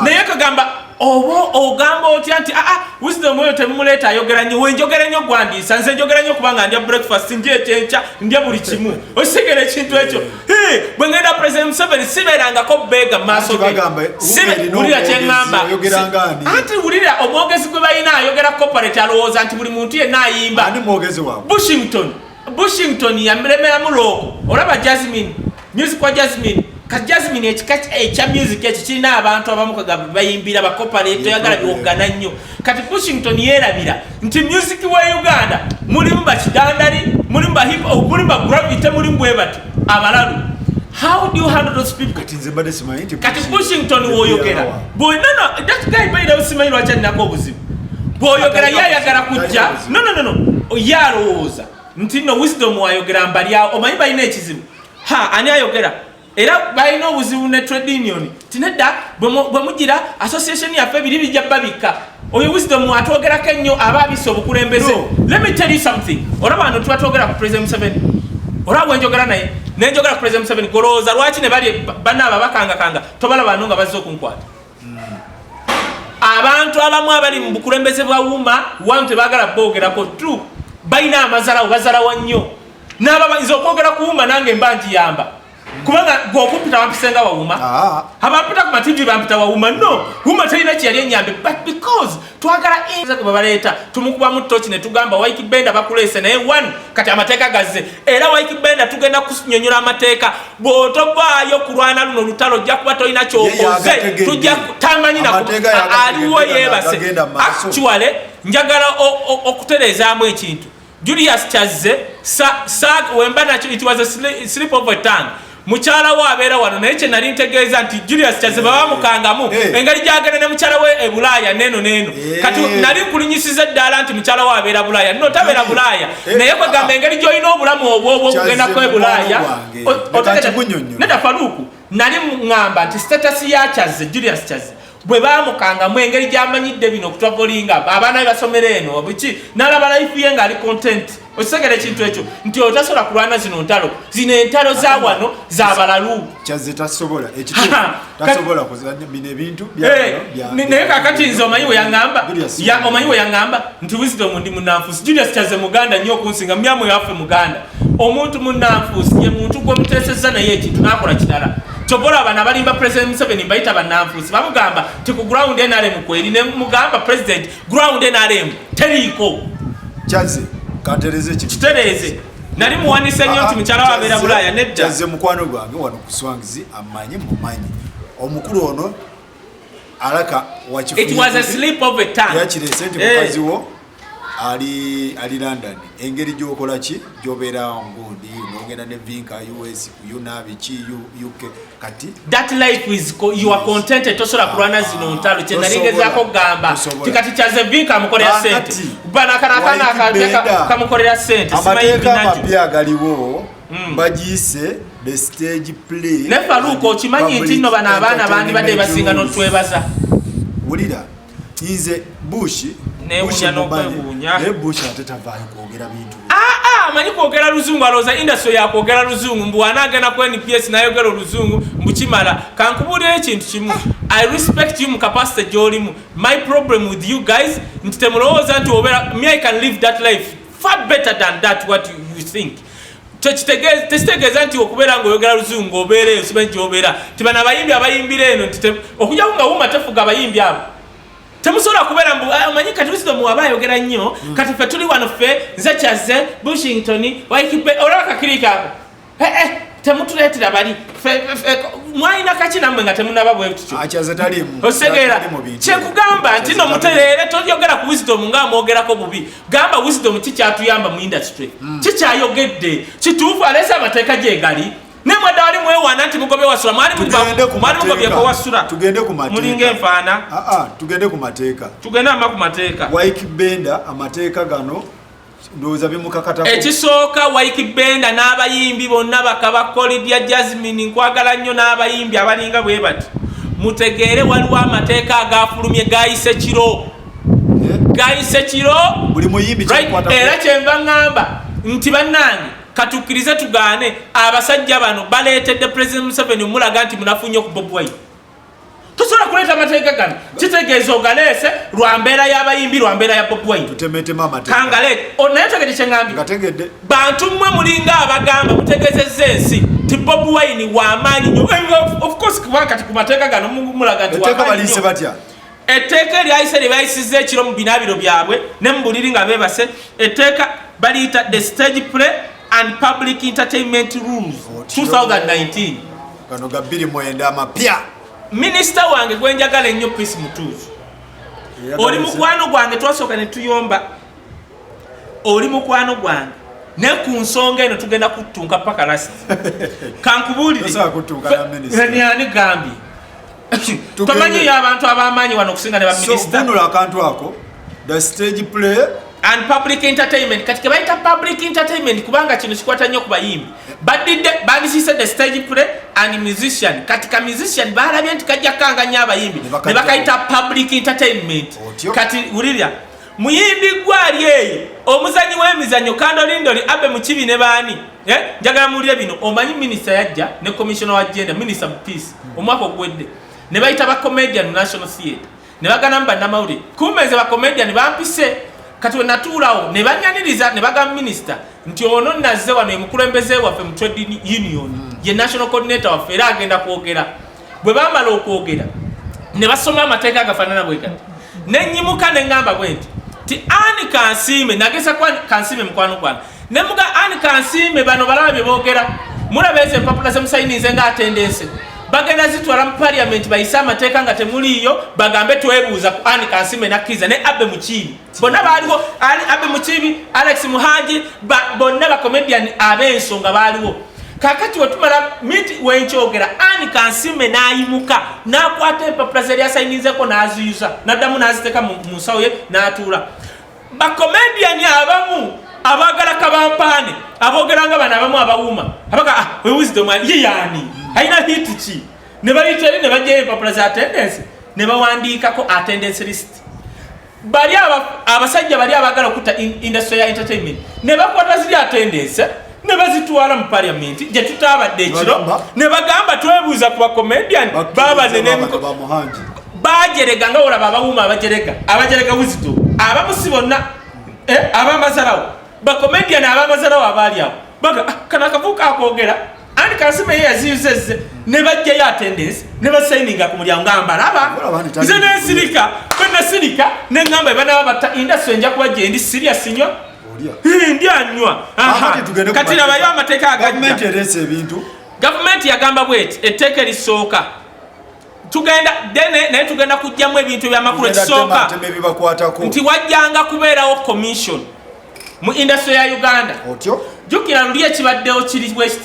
naye kagamba oba ogamba otya nti aa ah, ah, wisdom oyo temumuleeta ayogera nyo wenjogera nyo gwandiisa nze njogera nyo kubanga ndya breakfast ndya ekyenkya ndya buli kimu okitegera ekintu ekyo bwe ngenda president museveni sibeerangako beega maaso wulira kyeŋamba anti wulira omwogezi gwe balina ayogera corporate alowooza nti buli muntu yenna ayimba bushington bushington yamremeramu looko olaba jasmine music wa jasmine kati jasmine ekika ekya music ekyo kirina abantu abamu kagamba bayimbira bakopanetoyagala biwogana nnyo kati bushington yerabira nti music wa uganda mulimu bakidandali mulimu bahip oh, mulimu bagravity mulimu bwebati abalalu how do you handle those people kati nze mbadde simanyi nti kati bushington woyogera bwonana that guy bayira usimanyi lwaki alinako obuzibu bwoyogera yayagala kujja no no no no ye alowooza nti no wisdom wayogera mbalyawo omanyi balina ekizibu ha ani ayogera era balina obuzibu ne trade union tinedda bwe mugira association yaffe biri bijja babikka oyo wisdom atwogerako ennyo aba abisa obukulembeze let me tell you something olaba wano tuba twogera ku president museveni olaba bwenjogera naye nenjogera ku president museveni golowooza lwaki ne bali bana ababakangakanga tobalaba no nga bazze okunkwata hmm. abantu abamu abali mu bukulembeze bwa wuma wanu tebagala bogerako tu balina amazalawo bazalawa nnyo Nababa nze okwogera kuwuma nange mba nti yamba. Kubanga gwo okumpita wampise nga wawuma. Ah. Abampita ku matindi bampita wawuma. No, wuma tayina ki yali enyambe but because twagala inza kuba baleta tumukuba mu tochi ne tugamba Wike Benda bakulese naye one kati amateka gazze. Era Wike Benda tugenda kunyonyola amateka. Bwotobaayo kulwana luno lutalo jja kuba toyina kyokoze. Tujja tamanyi na aliwo yebase. Actually njagala okuterezaamu ekintu. Julius Kyazze sa, sa, wemba nakyo it was a slip of a tongue mukyala we abeera wano naye kye nali ntegeeza nti julius kyaziba eh. bamukangamu eh. engeri gyagenda ne mukyala we e bulaaya neeno neeno eh. kati nali nkulinyisiza eddaala nti mukyala we abeera bulaaya no tabeera bulaaya naye kwegamba engeri gyolina obulamu obwobwo okugendako e bulaaya nedda faluuku nali ŋŋamba nti status ya kyaze julius kyaze bwe baamukangamu engeri gy'amanyidde bino okutwagolinga abaana be basomera eno biki n'alaba layifu ye ng'ali kontenti okitegera ekintu ekyo nti otasobola kulwana zino ntalo zino entalo za wano za balalu
naye
kakati nze omanyi weyaamba omanyi weyaŋamba nti wisdom ndi munanfusi julius kyaze muganda nnyo okunsinga myamu yaffe muganda omuntu munanfuusi ye muntu gwemuteseza naye ekintu nakola kirala kyobola abana balimba president museveni mbayita bananfuusi bamugamba ti ku ground nrm kweri nemugamba president ground nrm teriiko kyaze
katereze kitereze
nali muwanise nnyo nti mukyala wabeera bulaaya nedda kyaze mukwano gwange
wano kuswangizi amanyi mumanyi omukulu ono alaka
wakifuyakirese nti eh. mukazi wo
ali ali london engeri gyokola ki gyobeera ngundi nogenda ne vinka us unabi ki uk kati that life is
you are contented tosobola kulwana ah, zino ntalo kyenalingezaako okugamba tikati kyaze vinka amukolera sente banakanakanakamukolera sente amateeka amapya
agaliwo hmm. bagiyise mm. ne faluuka okimanyi
nti nno bano abaana bandibadde basinga notwebaza wulira
nze bushi newunya
nokwewunya naye bushi ate tavaayo
kwogera bintu amanyi kwogera
luzungu alowooza industry yakwogera luzungu mbu wanaagenda ku nps nayogera oluzungu mbu kimala kankubuulira ekintu kimu i respect you mu capacity gyolimu my problem with you guys nti temulowooza nti obera me i can live that life far better than that what you, you think tekitegeeza nti okubeera ngaoyogera luzungu obeera eyo simanyi gyobeera ti bano abayimbi abayimbira eno okujako nga wuma tefuga abayimbi abo temusobola kubeera ah, manyi kati wisdom aba ayogera nnyo hmm. kati fe tuli wano fe nze kyaze bushington waikipe olaba kakirika ako eh, eh, temutuleetera bali mwalina kaki namwe nga temunaba bwekitegeera ah, kyekugamba nti no mutereere toyogera ku wisdom nga amwogerako bubi gamba wisdom ki kyatuyamba mu industry mm. ki kyayogedde kituufu aleese amateeka gyegali ne mwadda wali mwewaana nti mugobe wasula mwali mugobyeko wasula mulinga
enfaana ah,
ah, tugende ku
mateeka tugende ama ku mateeka
wike benda
amateeka gano ndowooza bimukakatako ekisooka wike
benda n'abayimbi bonna bakaba kolidya jasmine nkwagala nnyo n'abayimbi abalinga bwe bati mutegeere waliwo amateeka agafulumye gayise kiro gayise kiro
era kyenva
ŋŋamba nti bannange katukkirize tugaane abasajja bano baleetedde president museveni omulaga nti munafu nnyo ku bob wine tosobola kuleeta amateeka gano kitegeeza ogaleese lwa mbeera y'abayimbi lwa mbeera ya bob wine kangaleete
naye tegede
kyeŋambye bantu mmwe mulinga abagamba mutegezezza ensi ti bob wine wamaanyi nyo eh, ofcourse kubanga kati ku mateeka gano mulaga nti wamaanyi nyo etteeka eryayise lye bayisizza ekiro mu binaabiro byabwe ne mu buliri nga beebase etteeka baliyita the stage play and public entertainment rules 2019 gano ga
29 amapya minisita
wange gwe njagala ennyo peace mutuuzu oli mukwano gwange twasooka ne tuyomba oli mukwano gwange naye ku nsonga eno tugenda kuttunka paka lasi kankubuulire ani gambye tomanyiyo abantu abamaanyi wano okusinga ne baminisitavunula akantu ako
the stage play and public
entertainment kati kebayita public entertainment kubanga kino kikwata nnyo ku bayimbi badidde bandisise the stage play and musician kati ka musician balabye nti kajja kukanganya abayimbi ne bakayita public entertainment kati wulirya muyimbi gwali eyo omuzanyi w'emizanyo kandolindoli abe mukibi ne baani eh, njagala muwulire bino omanyi minisita yajja ne commissioner wa genda minisita mu peace omwaka ogwedde ne bayita ba comedian mu national theatre ne baganamu bannamawulire kumbe nze ba comedian bampise kati wenatuulawo ne banyaniriza ne bagamba minisita nti ono nazze wano emukulembeze waffe mu trade union ye national coordinator waffe era agenda kwogera bwe baamala okwogera ne basoma amateeka agafaanana bwe gati ne nnyimuka ne ŋŋamba bwe nti ti ani kansiime nageza ku kansiime mukwano gwana ne muga ani kansiime bano balaba bye boogera mulaba ezo empapula ze musayinize nga atendense bagenda zitwala mu paliamenti bayise amateeka nga temuliiyo bagambe twebuuza ku ani kansiime nakkiriza ne abbe mukiibi bonna baaliwo ali abe mukibi alex muhangi bonna bacomedian ab'ensonga baaliwo kakati wetumala miti wenkyogera ani kansime n'ayimuka n'akwata empapula zeyali asayinizeko n'aziyuza n'addamu n'aziteeka mu nsawo ye n'atuula bacomedian abamu abagala kabampaane aboogera nga bano abamu abawuuma abaga ah, wewisdom ye yaani alina hiti ki ne bayiteri ne bajjayo empapula za attendance ne bawandiikako attendance list bali abasajja bali abagala okutta industry ya entertainment ne bakwata ziri atendense ne bazitwala mu paliamenti gye tutaabadde ekiro ne bagamba twebuuza ku bacomedian babanenemiko bajerega nga olaba abawuma abajerega abajerega wuzito abamusi bonna eh, abamazalawo bacomedian abamazalawo abaali awo baga ah, kana akavuuka akoogera Anti Kasima yeye yaziyuzezze ne bajjayo attendance ne basayininga ku mulyango ngamba laba nze nensirika bwe nasirika ne ngamba ebanaba batta industry nja kuba gyendi serious nnyo ndi anywa kati labayo amateeka agajja gavumenti yagamba bweti etteeka erisooka tugenda dene naye tugenda kujjamu ebintu ebyamakulu ekisooka nti wajjanga kubeerawo commission mu industry ya uganda otyo jukira luli ekibaddewo kiri west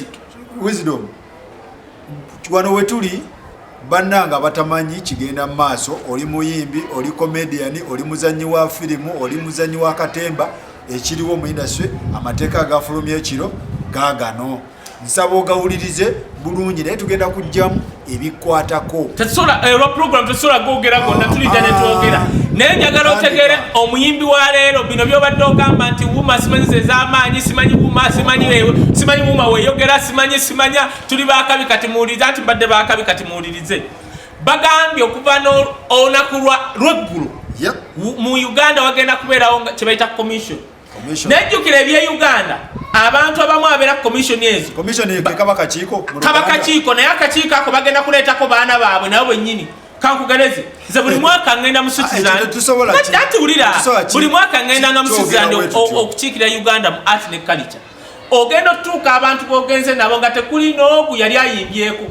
wisdom
wano wetuli bannanga abatamanyi kigenda mu maaso oli muyimbi oli komediyani oli muzannyi wa firimu oli muzannyi wa katemba ekiriwo mu industry amateeka agafulumya ekiro gaagano nsaba ogawulirize bulungi naye tugenda kujjamu ebikwatako olwa eh,
program tesobola gogera gonna ah, tulidda ne twogera ah. naye njagala otegere omuyimbi wa leero bino byobadde ogamba nti wuma simanyi zezamaanyi simanyi wuma simanyi wuma weyogera simanyi simanya tuli bakabi kati muwulirize anti mbadde bakabi kati muwulirize bagambye okuva n'olunaku lweggulu mu uganda wagenda kubeerawo kyebaita commission nejjukira ebye uganda abantu abamu abeera ku komisioni ezo kaba kakiiko naye akakiiko ako bagenda kuleetako baana baabwe nabo bwennyini kankugereze nze buli mwaka ngenda muswitzelandatuwulira ah, buli mwaka ngenda nga muswitzeland okukiikira uganda mu art ne culture ogenda otutuuka abantu bogenze nabo nga tekuli n'ogu yali ayimbyeko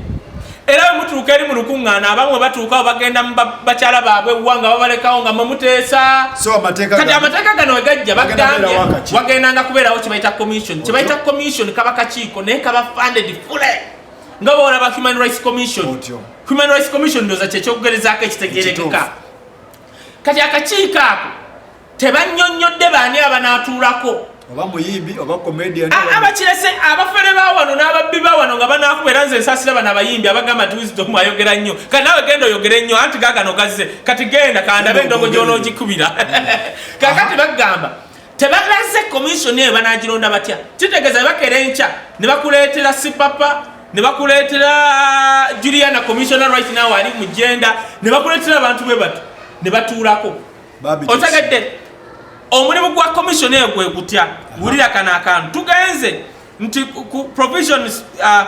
era bwe mutuuka eri mu lukuŋŋaana abamu bwe batuukawo bagenda mu bakyala baabwe wa nga babalekawo nga mwemuteesa kati amateeka gano we gajja bagambye wagendanga kubeerawo kyebayita commission kyebayita commission kaba kakiiko naye kaba funded fule nga bawolaba human rights commission human rights commission ndoza kyekyokugerezaako ekitegerekeka kati akakiiko ako tebannyonnyodde baani abanaatuulako oba muyimbi
oba comedian abakirese
abafere bawano n'ababbi bawano nga banaakuba era nze nsasira bano abayimbi abagamba nti wisdom ayogera nnyo kati nawe genda oyogere nnyo anti gagano gazze kati genda kandabe endongo gy'onoogikubira kakati bagamba tebalaze komisioni eyo banagironda batya kitegeeza bebakera enkya ne bakuleetera sipapa ne bakuleetera uh, juliana commissioner right now ali mu jenda ne bakuleetera abantu bwe bati ne batuulako otegedde omulimu gwa commission eyo gwe gutya wulira kano akantu tugenze nti ku provisions 5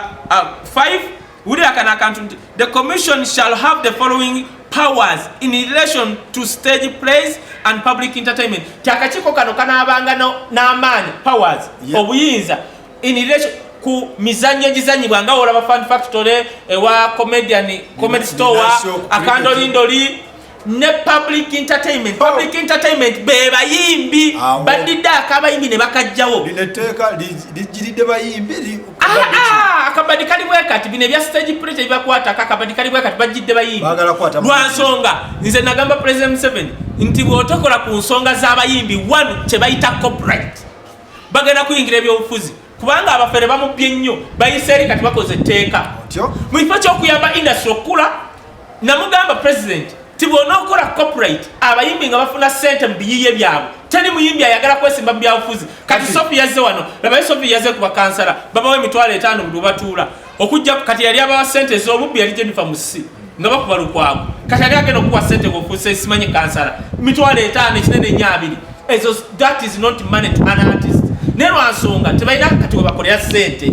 uh, uh, wulira kano akantu nti the commission shall have the following powers in relation to stage plays and public entertainment ti akakiiko kano kanaabanga n'amaanyi powers obuyinza in relation ku mizannyo egizanyibwa nga wolaba fan factory ewa comedian comedy store akandolindoli ne public entertainment oh. public entertainment bebayimbi badidde akabayimbi ne bakajjawo lino etteeka
lijjiridde bayimbi ah, ah,
akabadi kali bwekati bino ebya stage pressure bibakwatako akabadi kali bwekati bajjidde bayimbi lwa nsonga nze nagamba president museven nti bwotokola ku nsonga z'abayimbi one kye bayita copyright bagenda kuyingira ebyobufuzi kubanga abafere bamubbye nnyo bayise eri kati bakoze etteeka mu kifo ky'okuyamba indasitry okukula namugamba pulezidenti ti bwona okola copyright abayimbi nga bafuna sente mu biyiye byabwe teri muyimbi ayagala kwesimba mu byabufuzi kati sofi yazze wano labaye sofi yazze ku bakansala babawo emitwalo etaano buli webatuula okujja kati yali abawa sente ez'obubbi yali jennifer musi nga bakuba lukwago kati yali agenda okukuwa sente ngaofuuse simanyi kansala mitwalo etaano ekinene nyo abiri ezo that is not money to an artist naye lwansonga tebalina kati webakolera sente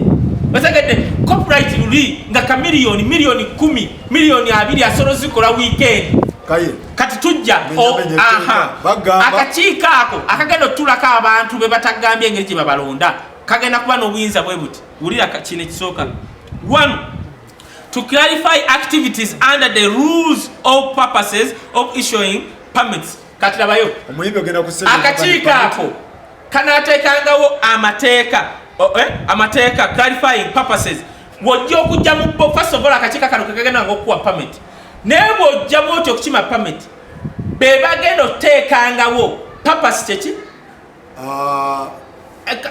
bategedde copyright luli nga ka miliyoni miliyoni kumi miliyoni abiri asobola ozikola wiikendi kati tujja akakiiko ako akagenda otulako abantu bebatagambye engeri gye babalonda kagenda kuba n'obuyinza bwe buti wulira kino ekisooka one to clarify activities under the rules of purposes of issuing permits kati labayo akakiiko ako kanateekangawo amateeka eh, amateeka clarifying purposes wojja okujja mu first of all akakiiko kano kekagenda nga okukuwa permit naye bwojja bwoti okukima permit bebagenda okuteekangawo purpose kyeki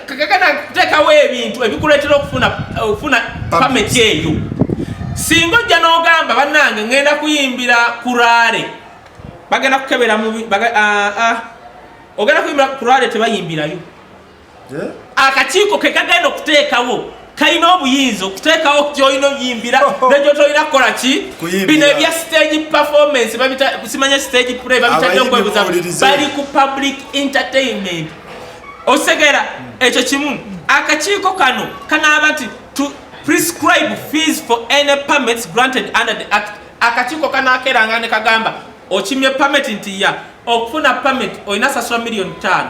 kagagana kuteekawo ebintu ebikuleetera okufuna okufuna pameti eyo singa ojja n'ogamba bannange ngenda kuyimbira kuraale bagenda kukebera mubi ogenda kuyimbira kuraale tebayimbirayo eh? akakiiko ke kagenda okuteekawo kalina obuyinza okuteekawo kyolina oyimbira nekyo tolina kukola ki bino ebya stage performance simanya stage play babitadde okwebuza bali ku public entertainment osegera ekyo kimu akakiiko kano kanaaba nti to prescribe fees for any permits granted under the act akakiiko kanakeranga ne kagamba okimye permit nti ya okufuna permit olina sasula million tano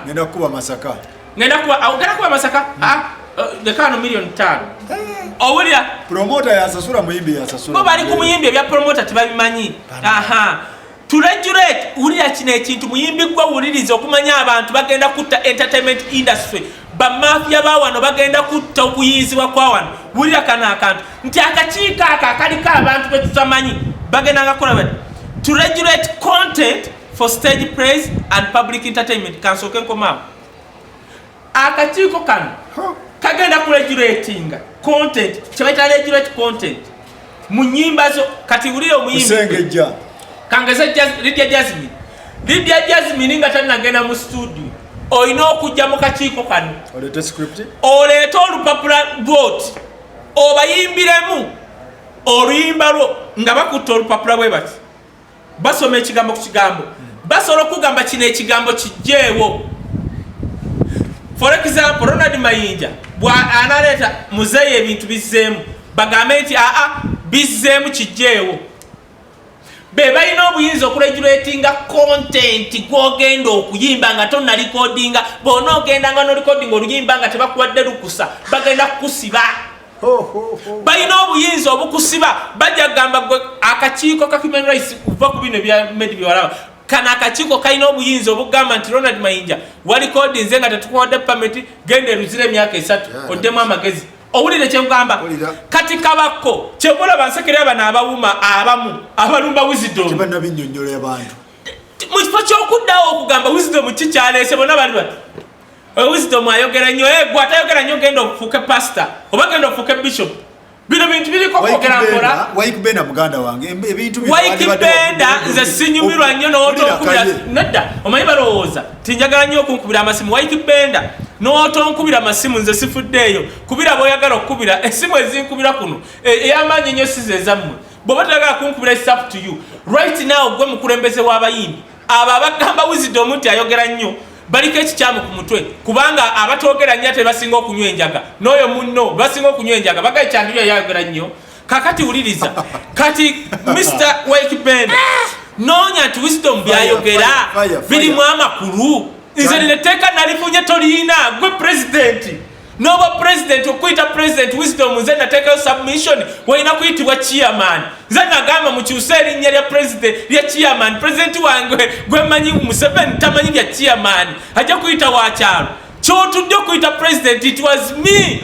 ngenda kuwa awogera kuwa masaka ah, eh, lekaano miliyoni ttaano eh. owulira promota yasasula muyimbi yasasula bo bali ku muyimbi ebya promota tebabimanyi aha turejurate wulira kino ekintu muyimbi gwe wuliriza okumanya abantu bagenda kutta entertainment industry bamafiya bawano bagenda kutta okuyinzibwa kwawano wulira kano akantu nti akakiiko ako akaliko abantu betutamanyi bagenda ngakola bati to regulate content for stage praise and public entertainment kansoke nkomaawo akakiiko kano kagenda kuregulatinga content kyebaita regulate content mu nyimba zo kati wulire omuyimbisengejja kangeze lidia jasmine lidia jasmine nga tanagenda mu studio olina okujja mu kakiiko kano oleete olupapula lwoti obayimbiremu oluyimba lwo nga bakutte olupapula bwe bati basoma ekigambo ku kigambo basobola okugamba kino ekigambo kijjeewo for example ronald mayinja bwanaleeta muzeeyi ebintu bizzeemu bagambe nti aa bizzeemu kijjeewo be balina obuyinza okuregulatinga kontenti gwogenda okuyimba nga tonalikodinga bona ogenda nga nolikodinga oluyimba nga tebakuwadde lukusa bagenda kukusiba balina obuyinza obukusiba bajja kugamba gwe akakiiko ka human rights kuva ku bino ebya medi byewalaba kano akakiiko kalina obuyinza obugamba nti ronald mayinja walikodi nze nga tetukuwadde pamiti genda eruzira emyaka esatu oddemu amagezi owulire
kyengamba kati kabakko kyemulaba nsekerera bano abawuma abamu abalumba wizidomu
mu kifo
kyokuddawo okugamba wizidomu kikyaleese bona bali bati Oyo wisdom ayogera nnyo eh gwa tayogera nnyo genda ofuuke pastor oba genda ofuuke bishop. Bino bintu biliko kwogera mpola. Wayiki Benda muganda
wange ebintu bino Wayiki Benda
nze sinyumirwa nnyo n'otonkubira nedda omanyi balowooza tinjagala nnyo okunkubira amasimu Wayiki Benda n'otonkubira amasimu nze sifuddeeyo kubira b'oyagala okukubira esimu ezinkubira kuno e, ey'amaanyi nnyo size ezammwe bw'oba toyagala kunkubira is up to you right now gwe mukulembeze w'abayimbi abo abagamba wizidomu nti ayogera nnyo baliko ekikyamu ku mutwe kubanga abatoogera nnyo ate basinga okunywa enjaga n'oyo munno basinga okunywa enjaga bagaye kyandiyo yayogera nnyo kakati wuliriza kati mr wake ben noonya nti wisdom byayogera birimu amakulu nze nina etteeka nalifunye toliyina gwe pulezidenti noba president okuyita president wisdom nze nateekayo submission walina kuyitibwa chairman nze nagamba mukyuse erinnya lya president lya chairman president wange gwemanyi museveni tamanyi bya chairman ajja kuyita wakyalo kyotudde okuyita president it was me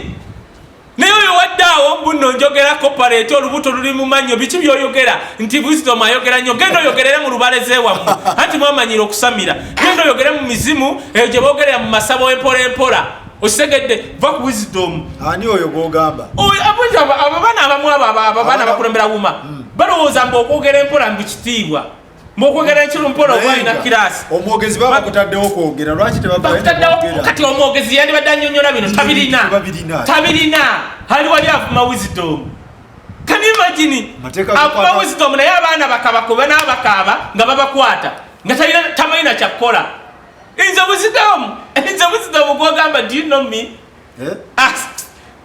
naye oyo waddaawo mbuno njogera koparate olubuto luli mumannyo biki byoyogera nti wisdom ayogera nnyo genda oyogerere mu lubaleze wamu anti mwamanyira okusamira genda oyogere mu mizimu eyo gye bogerera mu masabo empola empola okitegedde va ku wisdom ani oyo gwogamba
ababaana
abamu abo ababaana bakulembera wuma hmm. balowooza mbu okwogera empola mbu kitiibwa mwokwogera enkiro mpola oba alina kiraasi omwogezi baba bakutaddewo
kwogera lwaki tebakutaddewo kati
omwogezi yandibadde anyonyola bino tabirina tabirina ali wali avuma wisdom can you imagine akuba wisdom naye abaana bakaba kuba n'abakaaba nga babakwata nga talina tamanyi na kyakukola Inze buzidamu, inze buzidamu kwa gamba, do you know me? Eh? Ah,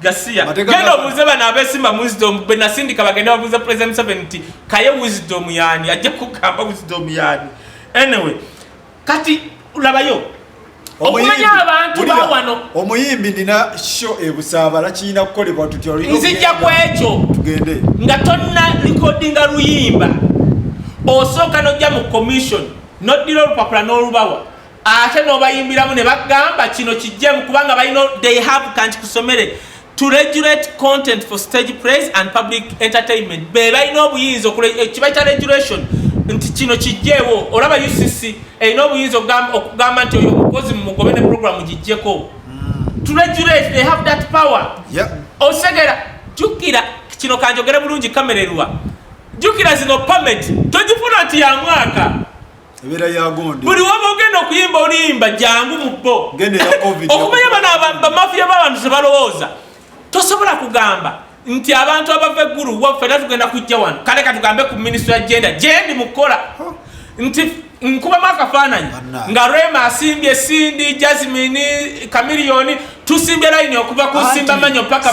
gasiya. Genda obuze bana abesima mu wisdom, bena sindika bagenda obuze President Museveni nti, kaye wisdom yani, ajja kugamba wisdom yani. Anyway, kati ulabayo, okumanya abantu bawano omuyimbi nina
sho ebusaabala kirina kukolebwa tutyo nzijja ku ekyo
tugende nga
tonna
likodinga luyimba osooka nojja mu commission noddira olupapula n'olubawa ate nobayimbiramu ne bagamba kino kijjemu kubanga balina they have kanti kusomere to regulate content for stage praise and public entertainment be balina obuyinza ekibaita eh, regulation nti kino kijjeewo olaba ucc erina obuyinza okugamba nti oyo omukozi mumugobe ne programu gijjeko hmm. to regulate they have that power osegera jukira kino kanjogere bulungi kamererwa jukira zino pameti togifuna nti ya mwaka ebeera
yagonde buli waba ogenda okuyimba
oluyimba jangu mu bo okumanya bano bamafiya b'abantu ze balowooza tosobola kugamba nti abantu abava eggulu waffe era tugenda kujja wano kale katugambe ku minisitry ya genda gyendi mukukola nti nkubamu akafaananyi nga rema asimbye sindi jasmini kamiliyoni tusimbye layini okuva ku nsimba manyo paka